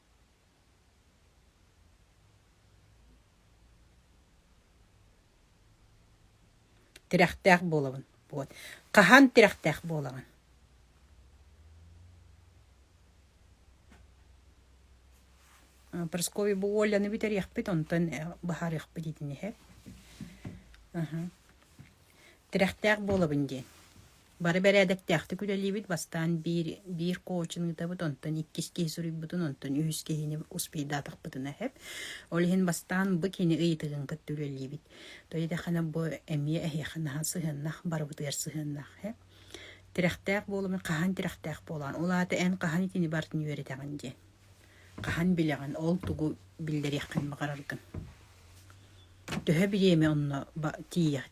Тирэхтээх буолабын. Вот. Хаһан тирэхтээх буолаҕын? Прасковья бу Оляны бүтэриэхпит, онтон быһаарыахпыт итини иһэ. Тирэхтээх буолабын диэн. Бары бэрээдэктээхтик үлэлиибит. Бастаан биир, биир коучун ыытабыт, онтон иккис киһи суруйбутун, онтон үһүс киһини успейдаатахпытына сөп. Ол иһин бастаан бу кини ыйытыгын кытта үлэлиибит. То идэхэнэ бу эмиэ эһиэхэ наһаа сыһыаннах, барыбытыгар сыһыаннах. э Тирэхтээх буолуумун хаһан тирэхтээх буолаан, ол аата эн хаһан итини бартын үөрэтэҕин дии. Хаһан билэҕин, ол тугу биллэриэххин баҕараргын Төһө бириэмэ онно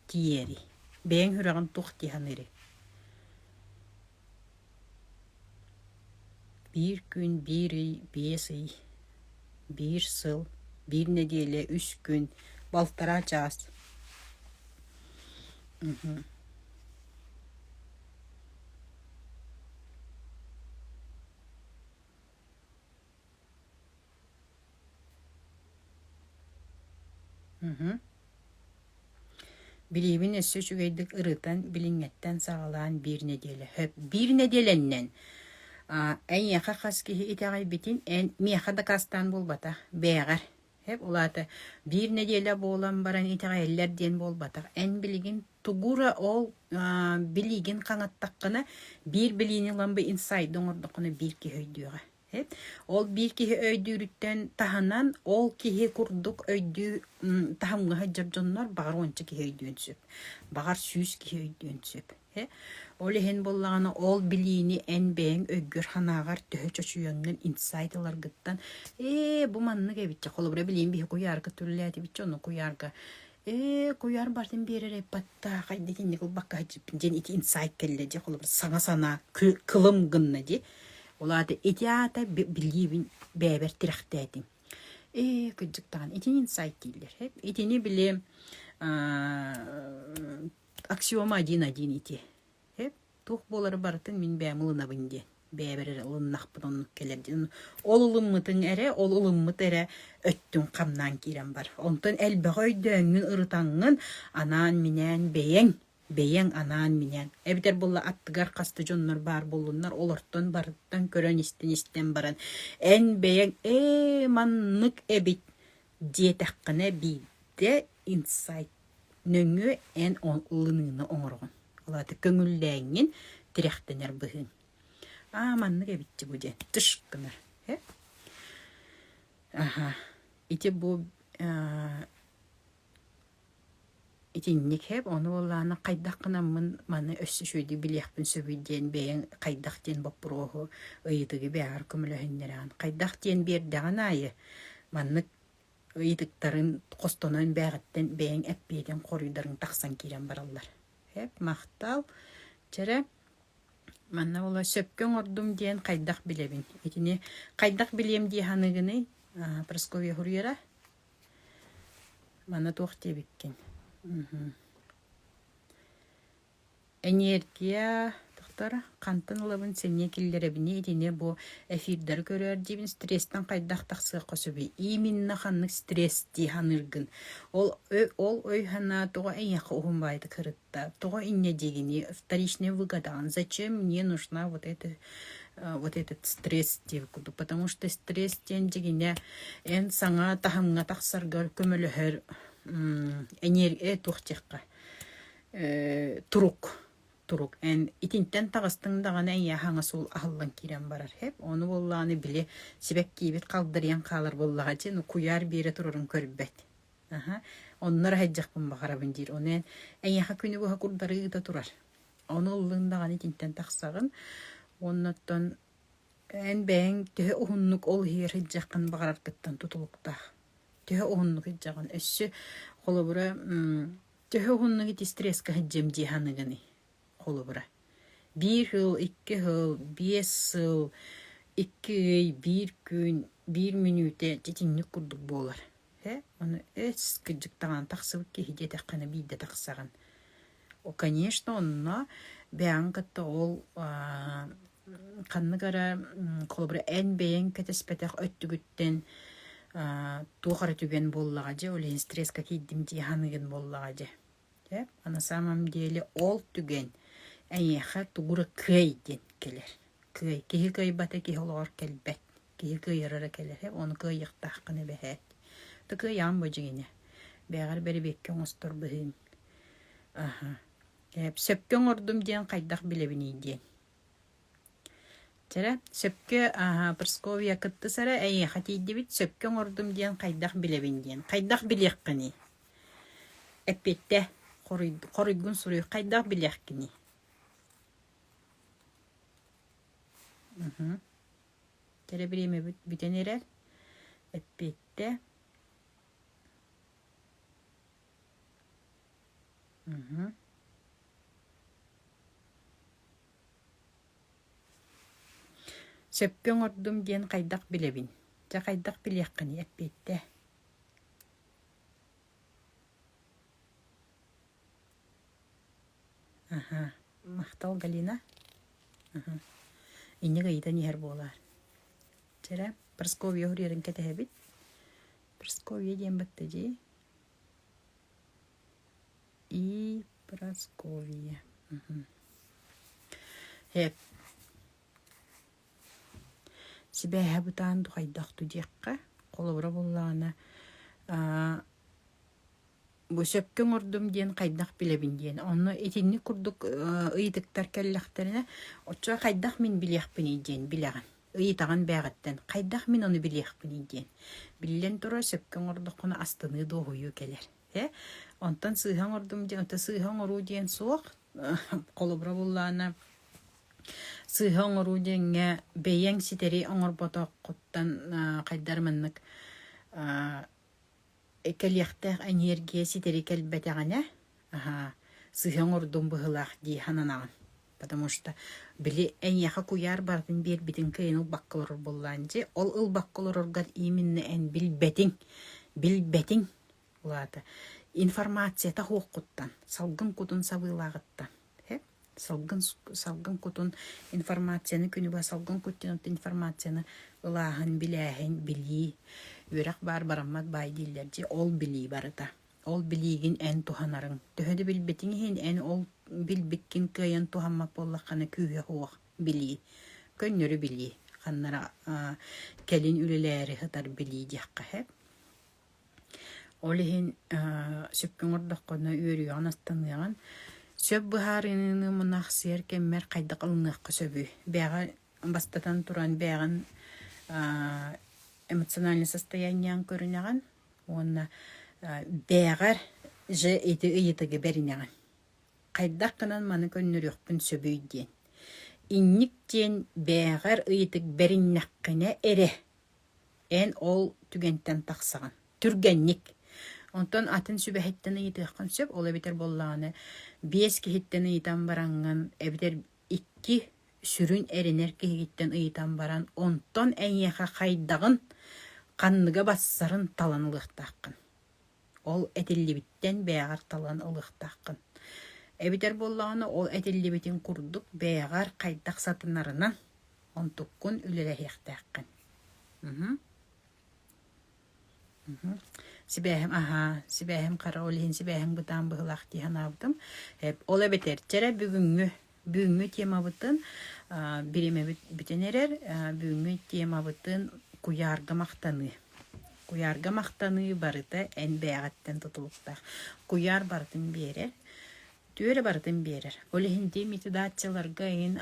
тиийэрий? Бэйэҥ сүрэҕиҥ туох дии саныырый? Биир күн, биир ый, биэс ый, биир сыл, биир нэдиэлэ, үс күн, балтараа чаас Билиибин өссө үчүгэйдик ырытан, билиҥҥэттэн саҕалаан биир нэдиэлэ хөп биир нэдиэлэннэн эйиэхэ хас киһи итэҕэйбитин эн миэхэ дакаастаан буолбата бээҕэр Эп улаата, биир нэдиэлэ буолан баран итэҕэйэллэр диэн буолбатах. Эн билигин тугу эрэ ол аа, билиигин хаҥаттаххына, биир билиини ылан бу инсайды оҥордоххуна биир киһи өйдүөҕэ. Эп ол биир киһи өйдүүрүттэн таһынан ол киһи курдук өйдүү м, таһымҥа сылдьар дьоннор баҕар уонча киһи өйдүөн сөп. Баҕар сүүс киһи өйдүөн сөп. Ол иһин буоллаҕына ол билиини эн бэйэҥ өйгөр-санааҕар төһө чочуйаҥҥын инсайт ыларгыттан ээ бу маннык эбитчэ холобура билиим биһи куйаарга түллээтибитчэ ону куйаарга ээ куйаар бартын биэрэр айпаттаах айда итинник ылбакка садьыппын диэн ити инсайт кэллэ дии холобура саҥа санаа кылым гынна дии ол аата ити аата билиибин бэйэбэр тирэхтээтим ээ кырдьык даҕаны итини инсайт дииллэр итини били аксиома один-один ити. Эп, туох буолары барытын мин бэйэм ылынабын диэн. Бэйэбэр эрэ ылыннахпын оннук кэлэрдин. Ол ылыммытыҥ эрэ, ол ылыммыт эрэ өттүн хамнаан киирэн бар. Онтон элбэҕи өйдөөҥҥүн, ырытаҥҥын, анаан-минээн бэйэҥ, бэйэҥ анаан-минээн. Эбэтэр буолла аттыгар хаста дьоннор баар буоллуннар, олортон барыттан көрөн-истэн истэн баран, эн бэйэҥ ээ маннык эбит диэтэххинэ биирдэ инсайт нөҥүө эн ылыныыны оҥороҕун алааты көҥүллээҥҥин тирэхтэнэр быһыыҥ аа маннык эбитти бу диэн тыш гынар э аха ити бу итинник хэп ону буоллаана хайдах гынаммын маны өссө үчүгэйдик билиэхпин сөбүй диэн бэйэҥ хайдах диэн боппуруоһу ыйытыгы бэйэҕэр көмөлөһүннэрэҕин хайдах диэн биэрдэҕин аайы маннык ыйытыктарын хостонон бээҕиттэн бэйэҥ эппиэтин хоруйдарын тахсан киирэн бараллар. Эп махтал. Чэрэ, манна була сөпкө оҥордум диэн хайдах билэбин? Итини хайдах билиэм дии саныгыный? Прасковья Хурьера? Манна туох диэбиккин? Эниэргийэ тахтар хантан ылабын, сэниэ киллэрэбиний итини бу эфирдары көрөөр диибин стрестэн хайдах тахсыахха сөбүй? Именно ханнык стресс дии саныыргын. Ол өй- ол өй-санаа тоҕо эйиэхэ уһун баайдык сырытта? Тоҕо инньэ диигиний? Вторичнее выгадание. Зачем мне нужна вот эта э, вот этот стресс диэбит курдук. Потому что стресс диэн дьигинэ эн саҥа таһымҥа тахсаргар көмөлөһөр м, эниэр- э, туох диэххэ турук турук эн итинтэн таҕыстыҥ даҕаны эйээ хаҥас суол аһыллан киирэн барар эп ону буоллаҕына били сибэккиибит халдырыйан хаалар буоллаҕа дии ну куйаар биэрэ турарын көрбөт аха оннор аһайдьахпын баҕарабын диир ону эн эйиэхэ күнү быһа курдары ыыта турар ону ыллыын даҕаны итинтэн тахсаҕын уоннаттан эн бэйэҥ төһө уһуннук ол иһигэр сылдьаххын баҕараргыттан тутулуктаах төһө уһуннук сылдьаҕын өссө холобура Төһө уһуннук ити стресска сылдьыам дии саныыгыный? Холобура, биир сыл, икки сыл, биэс сыл, икки ый, биир күн, биир мүнүүтэ дьитинник курдук буолар. Ээ, ону эс, кырдьыктаҕына тахсыбыт киһи диэтэххинэ биирдэ тахсаҕын. О, конечно, онно бэйэҕин кытта ол аа Ханнык эрэ холобура эн бэйэҥ кэтэспэтэх өттүгүттэн туох эрэ түгэн буоллаҕа дьэ ол иһин стресска киирдим дии саныыгын буоллаҕа дьэ. Дьэ а на самом деле ол түгэн эйиэхэ тугу эрэ кыай диэн кэлэр. Кыай киһи кыайбата киһи олоҕор кэлбэт. Киһи кыайара кэлэрэ ону кыайыахтааххына бэһээт. Ата кыайаҕын бу дьиҥинэ. Бээҕэр бэрэбиэккэ оҥостор быһыыҥ. Аха. Ээ, сөпкө оҥордум диэн хайдах билэбиний диэн. Чэ, сөпкө ааһа Прасковья кыттыс эрэ эйиэхэ тиийдибит сөпкө оҥордум диэн хайдах билэбин диэн. Хайдах билиэххиний? Эппиэттэ хоруй- хоруйгун суруй хайдах билиэхкиний? Мхм. Тэрэ бириэмэбит бүтэн эрэр. Эппиэттэ Сөпкө оҥордум диэн хайдах билэбин? Дьэ хайдах билиэххиний эппиэттэ. Аха, махтал Галина. Аха. Инник ыйытан иһэр буолаар. Чэрэ, Прасковья уһуруйарын кэтэһэбит. Прасковья диэн баттадьи. и Прасковье сибээһэ бытаан духайдах ту диэххэ холобура буллаҕына бу сөпкө оҥордум диэн хайдах билэбин диэн онно итинник курдук ыйытыктар кэллэхтэринэ оччо хайдах мин билиэхпиний диэн билэҕин ыйытаҕын бээҕиттэн хайдах мин ону билиэхпиний диэн. Биллэн турар, сөпкө оҥордоххуна астыныы дуоһуйуу кэлэр. Ээ, онтон сыыһа оҥордум диэн, онто сыыһа оҥоруу диэн суох. Холобура буллаана, сыыһа оҥоруу диэҥҥэ бэйэҥ ситэри оҥорботоххуттан хайдар маннык кэлиэхтээх эниэргийэ ситэри кэлбэтэҕинэ аһаа сыһыаҥ ордун быһыылаах дии сананаҕын потому что били эйиэхэ куйаар барытын биэрбитин кыайан ылбакка олорор буоллаҕын дьэ ол ылбакка олороргар ииминнэ эн билбэтиҥ билбэтиҥ улаата информацията суоххуттан салгын кутун сабыылааҕыттан салгын салгын кутун информацияны күнү быһа салгын куттун оттон информацияны ылааһын билээһин билии үөрэх баар бараммат баай дииллэр дии ол билии барыта ол билиигин эн туһанарыҥ төһө да билбитиҥ иһин эн ол билбиккин кыайан туһаммат буоллаххына күүһэ суох билии көннөрү билии ханнара кэлин үлэлээри сытар билии диэххэ Ол иһин сөпкө оҥордоххуна үөрүйэҕин астаныаҕын. Сөп быһаарыныыны мунах сиэр кэммэр хайдах ылыныахха сөбүй? Бэйэҕэ бастатан туран бэйэҕин эмоциональнай состояниеҕын көрүнэҕин уонна бэйэҕэр же ити ыйытыгы бэринэҕин. Хайдах гынан маны көннөрүөхпүн сөбүй диэн. Инник диэн бэйэҕэр ыйытык бэриннэххинэ эрэ Эн ол түгэнтэн тахсаҕын. Түргэнник. Онтон атын сүбэһиттэн ыйытыаххын сөп. Ол эбэтэр буоллаҕына биэс киһиттэн ыйытан бараҥҥын эбэтэр икки сүрүн эрэнэр киһигиттэн ыйытан баран онтон эйиэхэ хайдаҕын, ханныга барсарын талан ылыахтааххын. Ол этиллибиттэн бэйэҕэр талан ылыахтааххын. Эбэтэр буоллаҕына ол этиллибитин курдук бэйэҕэр хайдах сатанарынан онтуккун үлэлэһиэхтээххин. Мм. Мм. Сибээһим аһаа, сибээһим хара ол иһин сибээһим бытаан быһылаах дии санаабытым. Ол эбэтэр чэрэ бүгүҥҥү бүгүҥҥү темабытын бириэмэбит бүтэн эрэр бүгүҥҥү темабытын куйаарга махтаныы куйаарга махтаныы барыта эн бэйэҕиттэн тутулуктаах куйаар барытын биэрэр түөрэ барытын биэрэр ол иһин диэн методаччыларга ин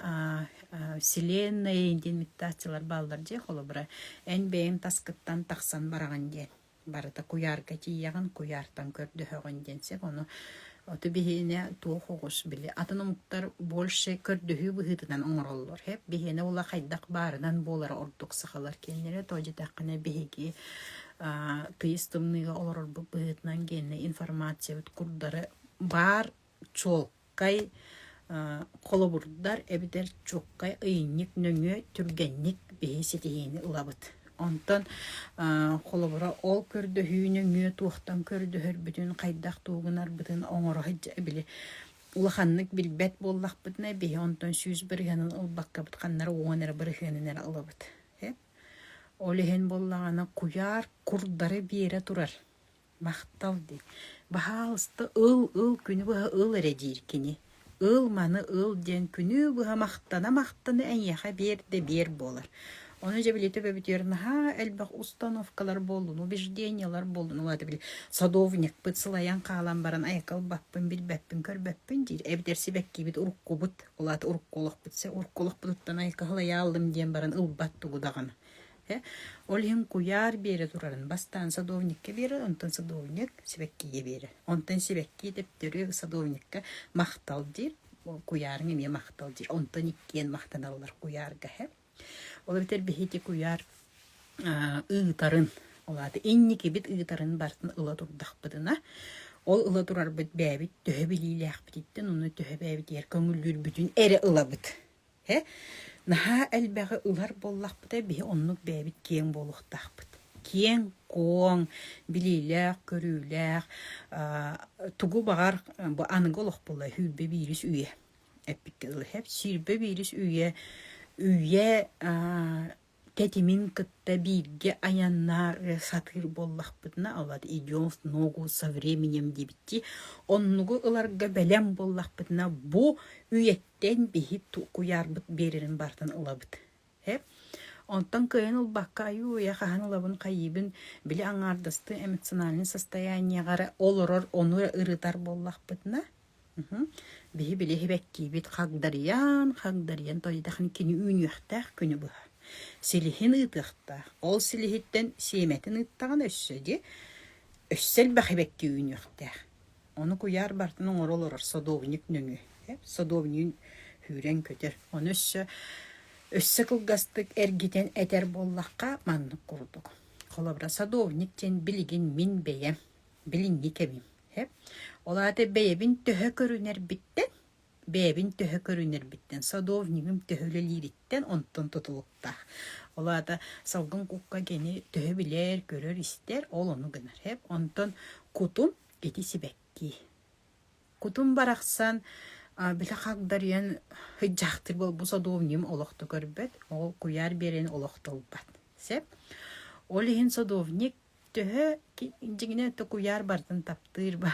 вселенная диэн методаччылар бааллар дьэ холобура эн бэйэҥ таскыттан тахсан бараҕын диэн барыта куйаарга тиийэҕин, куйаартан көрдөһөҕүн диэн сөп. Ону оту биһиэнэ туох оҕус били атын омуктар больше көрдөһүү быһыытынан оҥороллор. Хэп биһиэнэ ула хайдах баарынан буолара ордук сахалар кинилэри то дитэххинэ биһиги тыйыс тымныыга олорорбут быһыытынан гиэнэ информациябыт курдары баар чуолкай, холобурдар эбэтэр чуолкай ыйынньык нөҥүө түргэнник биһи ситиһиини ылабыт. Онтон холобура ол көрдөһүү нөҥүө туохтан көрдөһөрбүтүн, хайдах туугунарбытын оҥоро сылдьа били улаханнык билбэт буоллахпытына биһи онтон сүүс бырыһыанын ылбаккабыт ханнара уон эрэ бырыһыанын эрэ ылабыт. Ол иһин буоллаҕына куйаар курдары биэрэ турар Махтал диэн. Баһаалыста ыл, ыл, күнү быһа ыл эрэ диир кини. Ыл маны ыл диэн күнү быһа махтана-махтана эйиэхэ биэр да биэр буолар. Ону дьэ били төбө бүтүөр наһаа элбэх установкалар буоллун, убеждениелар буоллун, ол аата били садовникпыт сылайан хаалан баран айакка ылбаппын, билбэппин, көрбөппүн диир. Эбэтэр сибэккибит уруккубут, ол аата урукку олохпут, урукку олохпутуттан айакка сылайааллым диэн баран ылбат тугу даҕаны. Ол иһин куйаар биэрэ турарын бастаан садовникка биэрэр, онтон садовник сибэккигэ биэрэр. Онтон сибэкки төптөрү садовникка махтал диир. Куйаарыҥ эмиэ махтал диир. Онтон иккиэн махтаналлар куйаарга һэ. Ол эбэтэр биһиги куйаар ыытарын, ол аата инникибит ыытарын барытын ыла турдахпытына, ол ыла турарбыт бэйэбит төһө билиилээхпититтэн, оны төһө бэйэбитигэр көҥүллүүрбүтүн эрэ ылабыт. Ээ, наһаа элбэҕи ылар буоллахпытына, биһи оннук бэйэбит киэҥ буолуохтаахпыт. Киэҥ-куоҥ, билиилээх-көрүүлээх, аа тугу баҕар бу аныгы олох буолла сүүрбэ биирис үйэ эппиккэ дылы. Сүүрбэ биирис үйэ үйэ аа Тэтимин кытта бииргэ айаннаары сатыыр буоллахпытына, олор идет в ногу со временем диэбиттии, оннугу ыларга бэлэм буоллахпытына, бу үйэттэн биһи куйаарбыт биэрэрин барытын ылабыт. Э? Онтон кыайан ылбакка айуу-уйа хаһан ылабын хайыыбын били аҥаардастыы эмоциональнай состояниеҕа эрэ олорор ону ырытар буоллахпытына Биһи билиһибэттиибит хагдарыйан, хагдарыйан тойдахын кини үүнүөхтээх күнү быһа. Силиһин ыытыахтаах. Ол силиһиттэн сиэмэтин ыыттаҕына өссө дьэ өссө элбэх эбэттии үүнүөхтээх. Ону куйаар бартын оҥоро олорор содовник нөҥүө. Содовнигын сүүрэн көтөр. Ону өссө өссө кылгастык эргитэн этэр буоллахха маннык курдук. Холобура садовник диэн билигин мин бэйэм билиҥҥи кэмим. Ол аата бэйэбин төһө көрүнэрбиттэн, бэйэбин төһө көрүнэрбиттэн, садовнигым төһө үлэлиириттэн онтон тутулуктаах. Ол аата салгын кукка кини төһө билэр, көрөр-истэр, ол ону гынар. Онтон кутум ити сибэкки. Кутум барахсан били хагдарыйан хыйдьахтыр бу садовнигым олохто көрбөт, ол куйаар биэрэн олохто ылбат. Сеп. Ол иһин садовник Төһө дьиҥинэ токуйаар бартын таптыыр ба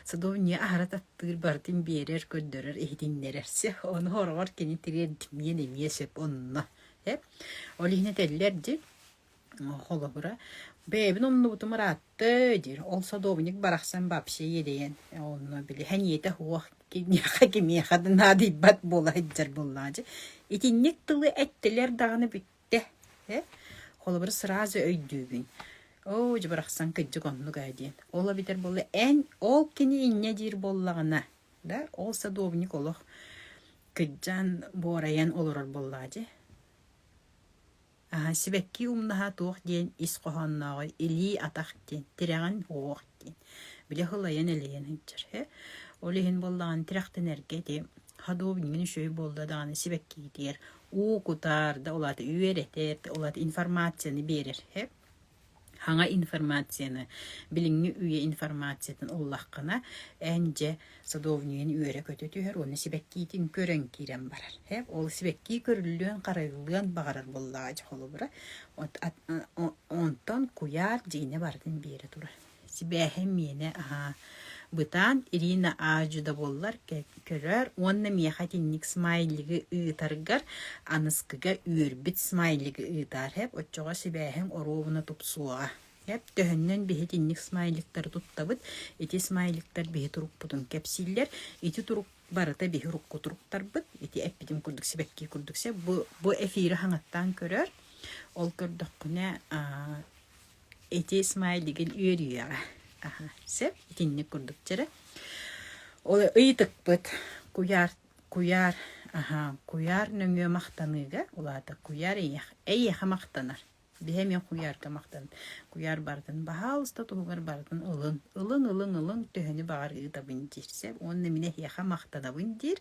садовнья аһара таптыыр бартын биэрэр, көрдөрөр, иһитиннэрэр. Сэ ону ороҕор кини тириэрдимиэн эмиэ сөп онно. Э? Ол иһинэ тэллэр дьи холобура бэйэбин умнубутум ыраатты диир ол садовник барахсан вообще иэдэйэн онно били хэниэтэ хуох кимиэхэ кимиэхэ да наадыйбат буола сылдьар буоллаачы итинник тылы эттилэр даҕаны Тэ, э? Холобур, сразу өйдүүбүн. Оо, дьэ барахсан кырдьык оннук ээ диэн. Ол эбэтэр буолла эн ол кини инньэ диир буоллаҕына, да ол садовник олох кырдьан буорайан олорор буоллаҕа дьэ. Аһа сибэкки умнаһа туох диэн ис хоһооннооҕой илии атах диэн тирэҕин уох диин били ылайан-элэйэн сылдьар э ол иһин буоллаҕына тирэхтэнэргэ ити ходук иҥин үчүгэй буолла даҕаны сибэккиитигэр уу кутар да ол аата үөрэтэр да ол аата информацияны биэрэр э хаҥа информацияны билиҥҥи үйэ информациятын ыллаххына эн дьэ Садовнигын үөрэ-көтө түһэр уонна сибэккиитин көрөн киирэн барар. Ээ, ол сибэкки көрүллүөн-харайыллыан баҕарар буоллаҕа дьэ холобура. Онтон куйаар дьиҥинэ барытын биэрэ турар. Сибээһим миэнэ аһаа бытаан Ирина аадьы да буоллар көрөөр уонна миэхэ итинник смайлигы ыытаргар аныскыга үөрбүт смайлигы ыытаар. Эп оччоҕо сибээһиҥ оруобуна тупсуоҕа. Эп төһөннөн биһитинник смайликтары туттабыт, ити смайликтар биһи турукпутун кэпсииллэр. Ити турук барыта биһи урукку туруктарбыт. Ити эппитим курдук сибэкки курдук сэ. Бу, бу эфири хаҥаттаан көрөр. Ол көрдөххүнэ аа, ити смайлигин үөрүйэҕэ. Аха, сэ итинник курдук чэрэ. Ыйытыкпыт куйаар куйаар аха куйаар нөҥүө махтаныыга улаата куйаар эйиэхэ эйиэхэ махтанар Биһэ эмиэ куйаарга махтан. Куйаар барытын баһаалыста туһугар барытын ылын. Ылын, ылын, ылын, төһөнү баҕар ыытабын диир сeb уонна мин эһиэхэ махтанабын диир.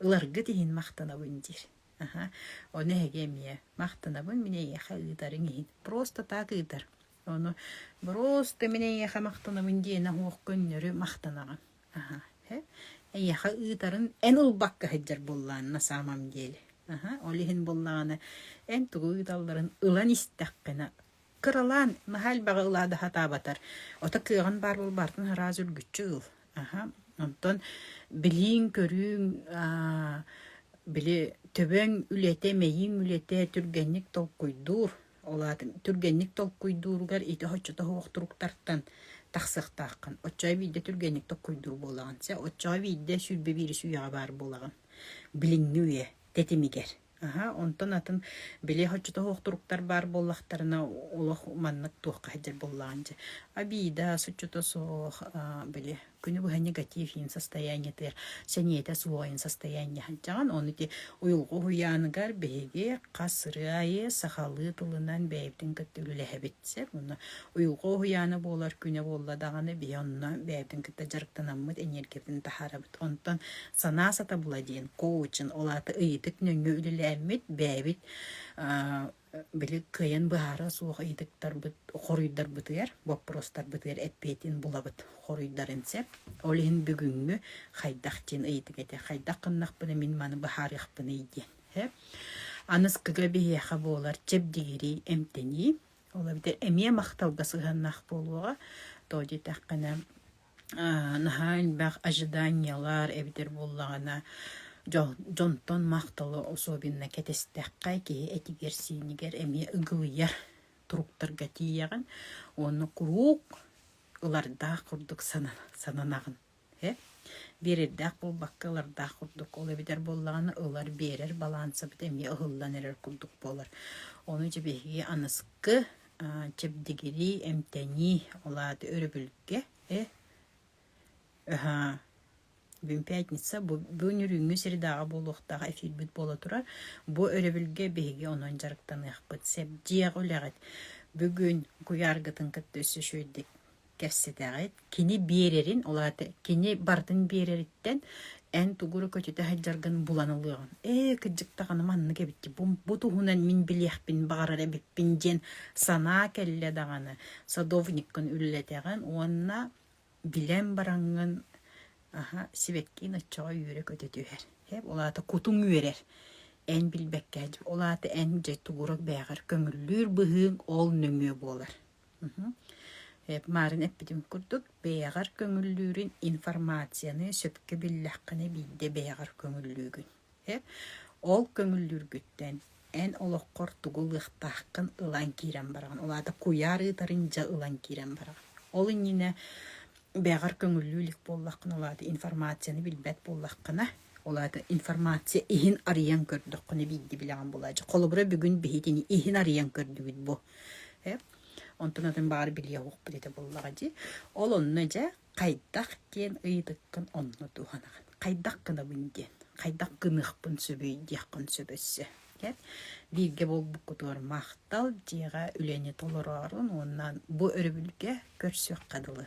Ыларгыт иһин махтанабын диир. Аха. Ону эһиги эмиэ махтанабын, мин эйиэхэ ыытарыҥ иһин. Просто так ыытар. Ону просто мин эйиэхэ махтанабын диэн оһуох көннөрү махтанаҕын. Аһа, эйиэхэ ыытарын эн ылбакка сылдьар буоллаҕын на самом деле. Аһа, ол иһин буоллаҕына эн тугу ыыталларын ылан истэххинэ кыралаан наһаа элбэҕи ылаада сатаабатар. Ото кыаҕын баар буолбаартан араас үргүччү ыл. Аһа, онтон билииҥ, көрүүҥ, аа, били төбөҥ үлэтэ, мэйииҥ үлэтэ түргэнник толкуйдуур. Ол аатын түргэнник толкуйдууругар ити оччото суох туруктартан тахсыахтааххын. Оччоҕо биирдэ түргэнник толкуйдуур буолаҕын. Чэ, оччоҕо биирдэ сүүрбэ биирис үйэҕэ баар буолаҕын. Билиҥҥи үйэ тэтимигэр. Аһа, онтон атын били оччото суох туруктар баар буоллахтарына, олох маннык туохха сылдьар буоллаҕын дии. Обида, оччото суох, били күнү быһа негатив иин состояниетыгар сэниэтэ суох иин состояние сылдьаҕын ону ити уйулҕа уһуйааныгар биһиги хас ырыа айы сахалыы тылынан бэйэбитин кытта үлэлэһэбит сэр уонна уйулҕа уһуйаана буолар күнэ буолла даҕаны биһи онно бэйэбитин кытта дьарыктанаммыт энергиябытын таһаарабыт онтон санаа сатабыла диэн коучин ол аата ыйытык нөҥүө үлэлээммит бэйэбит били кыайан быһаара суох ыйытыктарбыт хоруйдарбытыгар боппуруостарбытыгар эппиэтин булабыт хоруйдарын сөп ол иһин бүгүҥҥү хайдах диэн ыйытык этэ хайдах гыннахпына мин маны быһаарыахпыный диэн сөп аныскыга биһиэхэ буолар чэбдигирии эмтэнии ол эбэтэр эмиэ махталга сыһыаннаах буолуоҕа тоҕо диэтэххинэ наһаа элбэх ожиданиелар эбитэр буоллаҕына дьол дьонтон махталы особенно кэтэстэххэ киһи этигэр-сиинигэр эмиэ ыгылыйар туруктарга тиийэҕин уонна куруук ылардаах курдук санан сананаҕын ээ биэрэрдээх буолбакка ылардаах курдук ол эбитэр буоллаҕына ылар биэрэр балаансабыт эмиэ ыһыллан эрэр курдук буолар ону дьэ биһиги аныскы чэбдигирии, эмтэнии, ол аата өрөбүлгэ э бүгүн пятница бу бу нүрүүҥҥү средаҕа буолуохтаах эфирбит буола турар бу өрөбүлгэ биһиги онон дьарыктаныахпыт сэрдиэх үлэҕит бүгүн куйааргытын кытта өссө үчүгэйдик кэпсэтэҕит, кини биэрэрин, ол аата кини барытын биэрэриттэн эн тугу эрэ көтүтэ сылдьаргын булан ылыаҕын. Ээ, кырдьык даҕаны маннык эбит, бу, бу туһунан мин билиэхпин баҕарар эбиппин диэн санаа кэллэ даҕаны, садовниккын үлэлэтэҕин уонна билэн бараҥҥын аһа, сибэккиин оччоҕо үөрэ көтө түһэр. Э, ол аата кутуҥ үөрэр. Эн билбэккэ дьэ, ол аата эн дьэ тугурук бээҕэр көҥүллүүр быһыыҥ ол нөҥүө буолар. Марын эппитим курдук, бэйэҕэр көҥүллүүрүн информацияны сөпкө биллэххинэ биирдэ бэйэҕэр көҥүллүүгүн. Ол көҥүллүүргүттэн эн олоххор тугу ылыахтааххын ылан киирэн бараҕын. Ол аата куйаар ыытарын дьэ ылан киирэн бараҕын. Ол иннинэ бэйэҕэр көҥүллүү илик буоллаххына, ол аата информацияны билбэт буоллаххына, Ол аата информация иһин арыйан көрдөххүнэ биирдии билэҕин булааччы. Холобура бүгүн биһитини иһин арыйан көрдүгүт бу. Э? Онтон атын баҕар билиэ уохпут этэ буоллаҕа дии. Ол онно дьэ хайдах диэн ыйытыккын онно туһанаҕын. Хайдах гынабын диэн, хайдах гыныахпын сөбүй диэххин сөп өссө. Бииргэ буолбуккутугар махтал, дьиэҕэ үлэни толороорун уонна бу өрөбүлгэ көрсүөххэ дылы.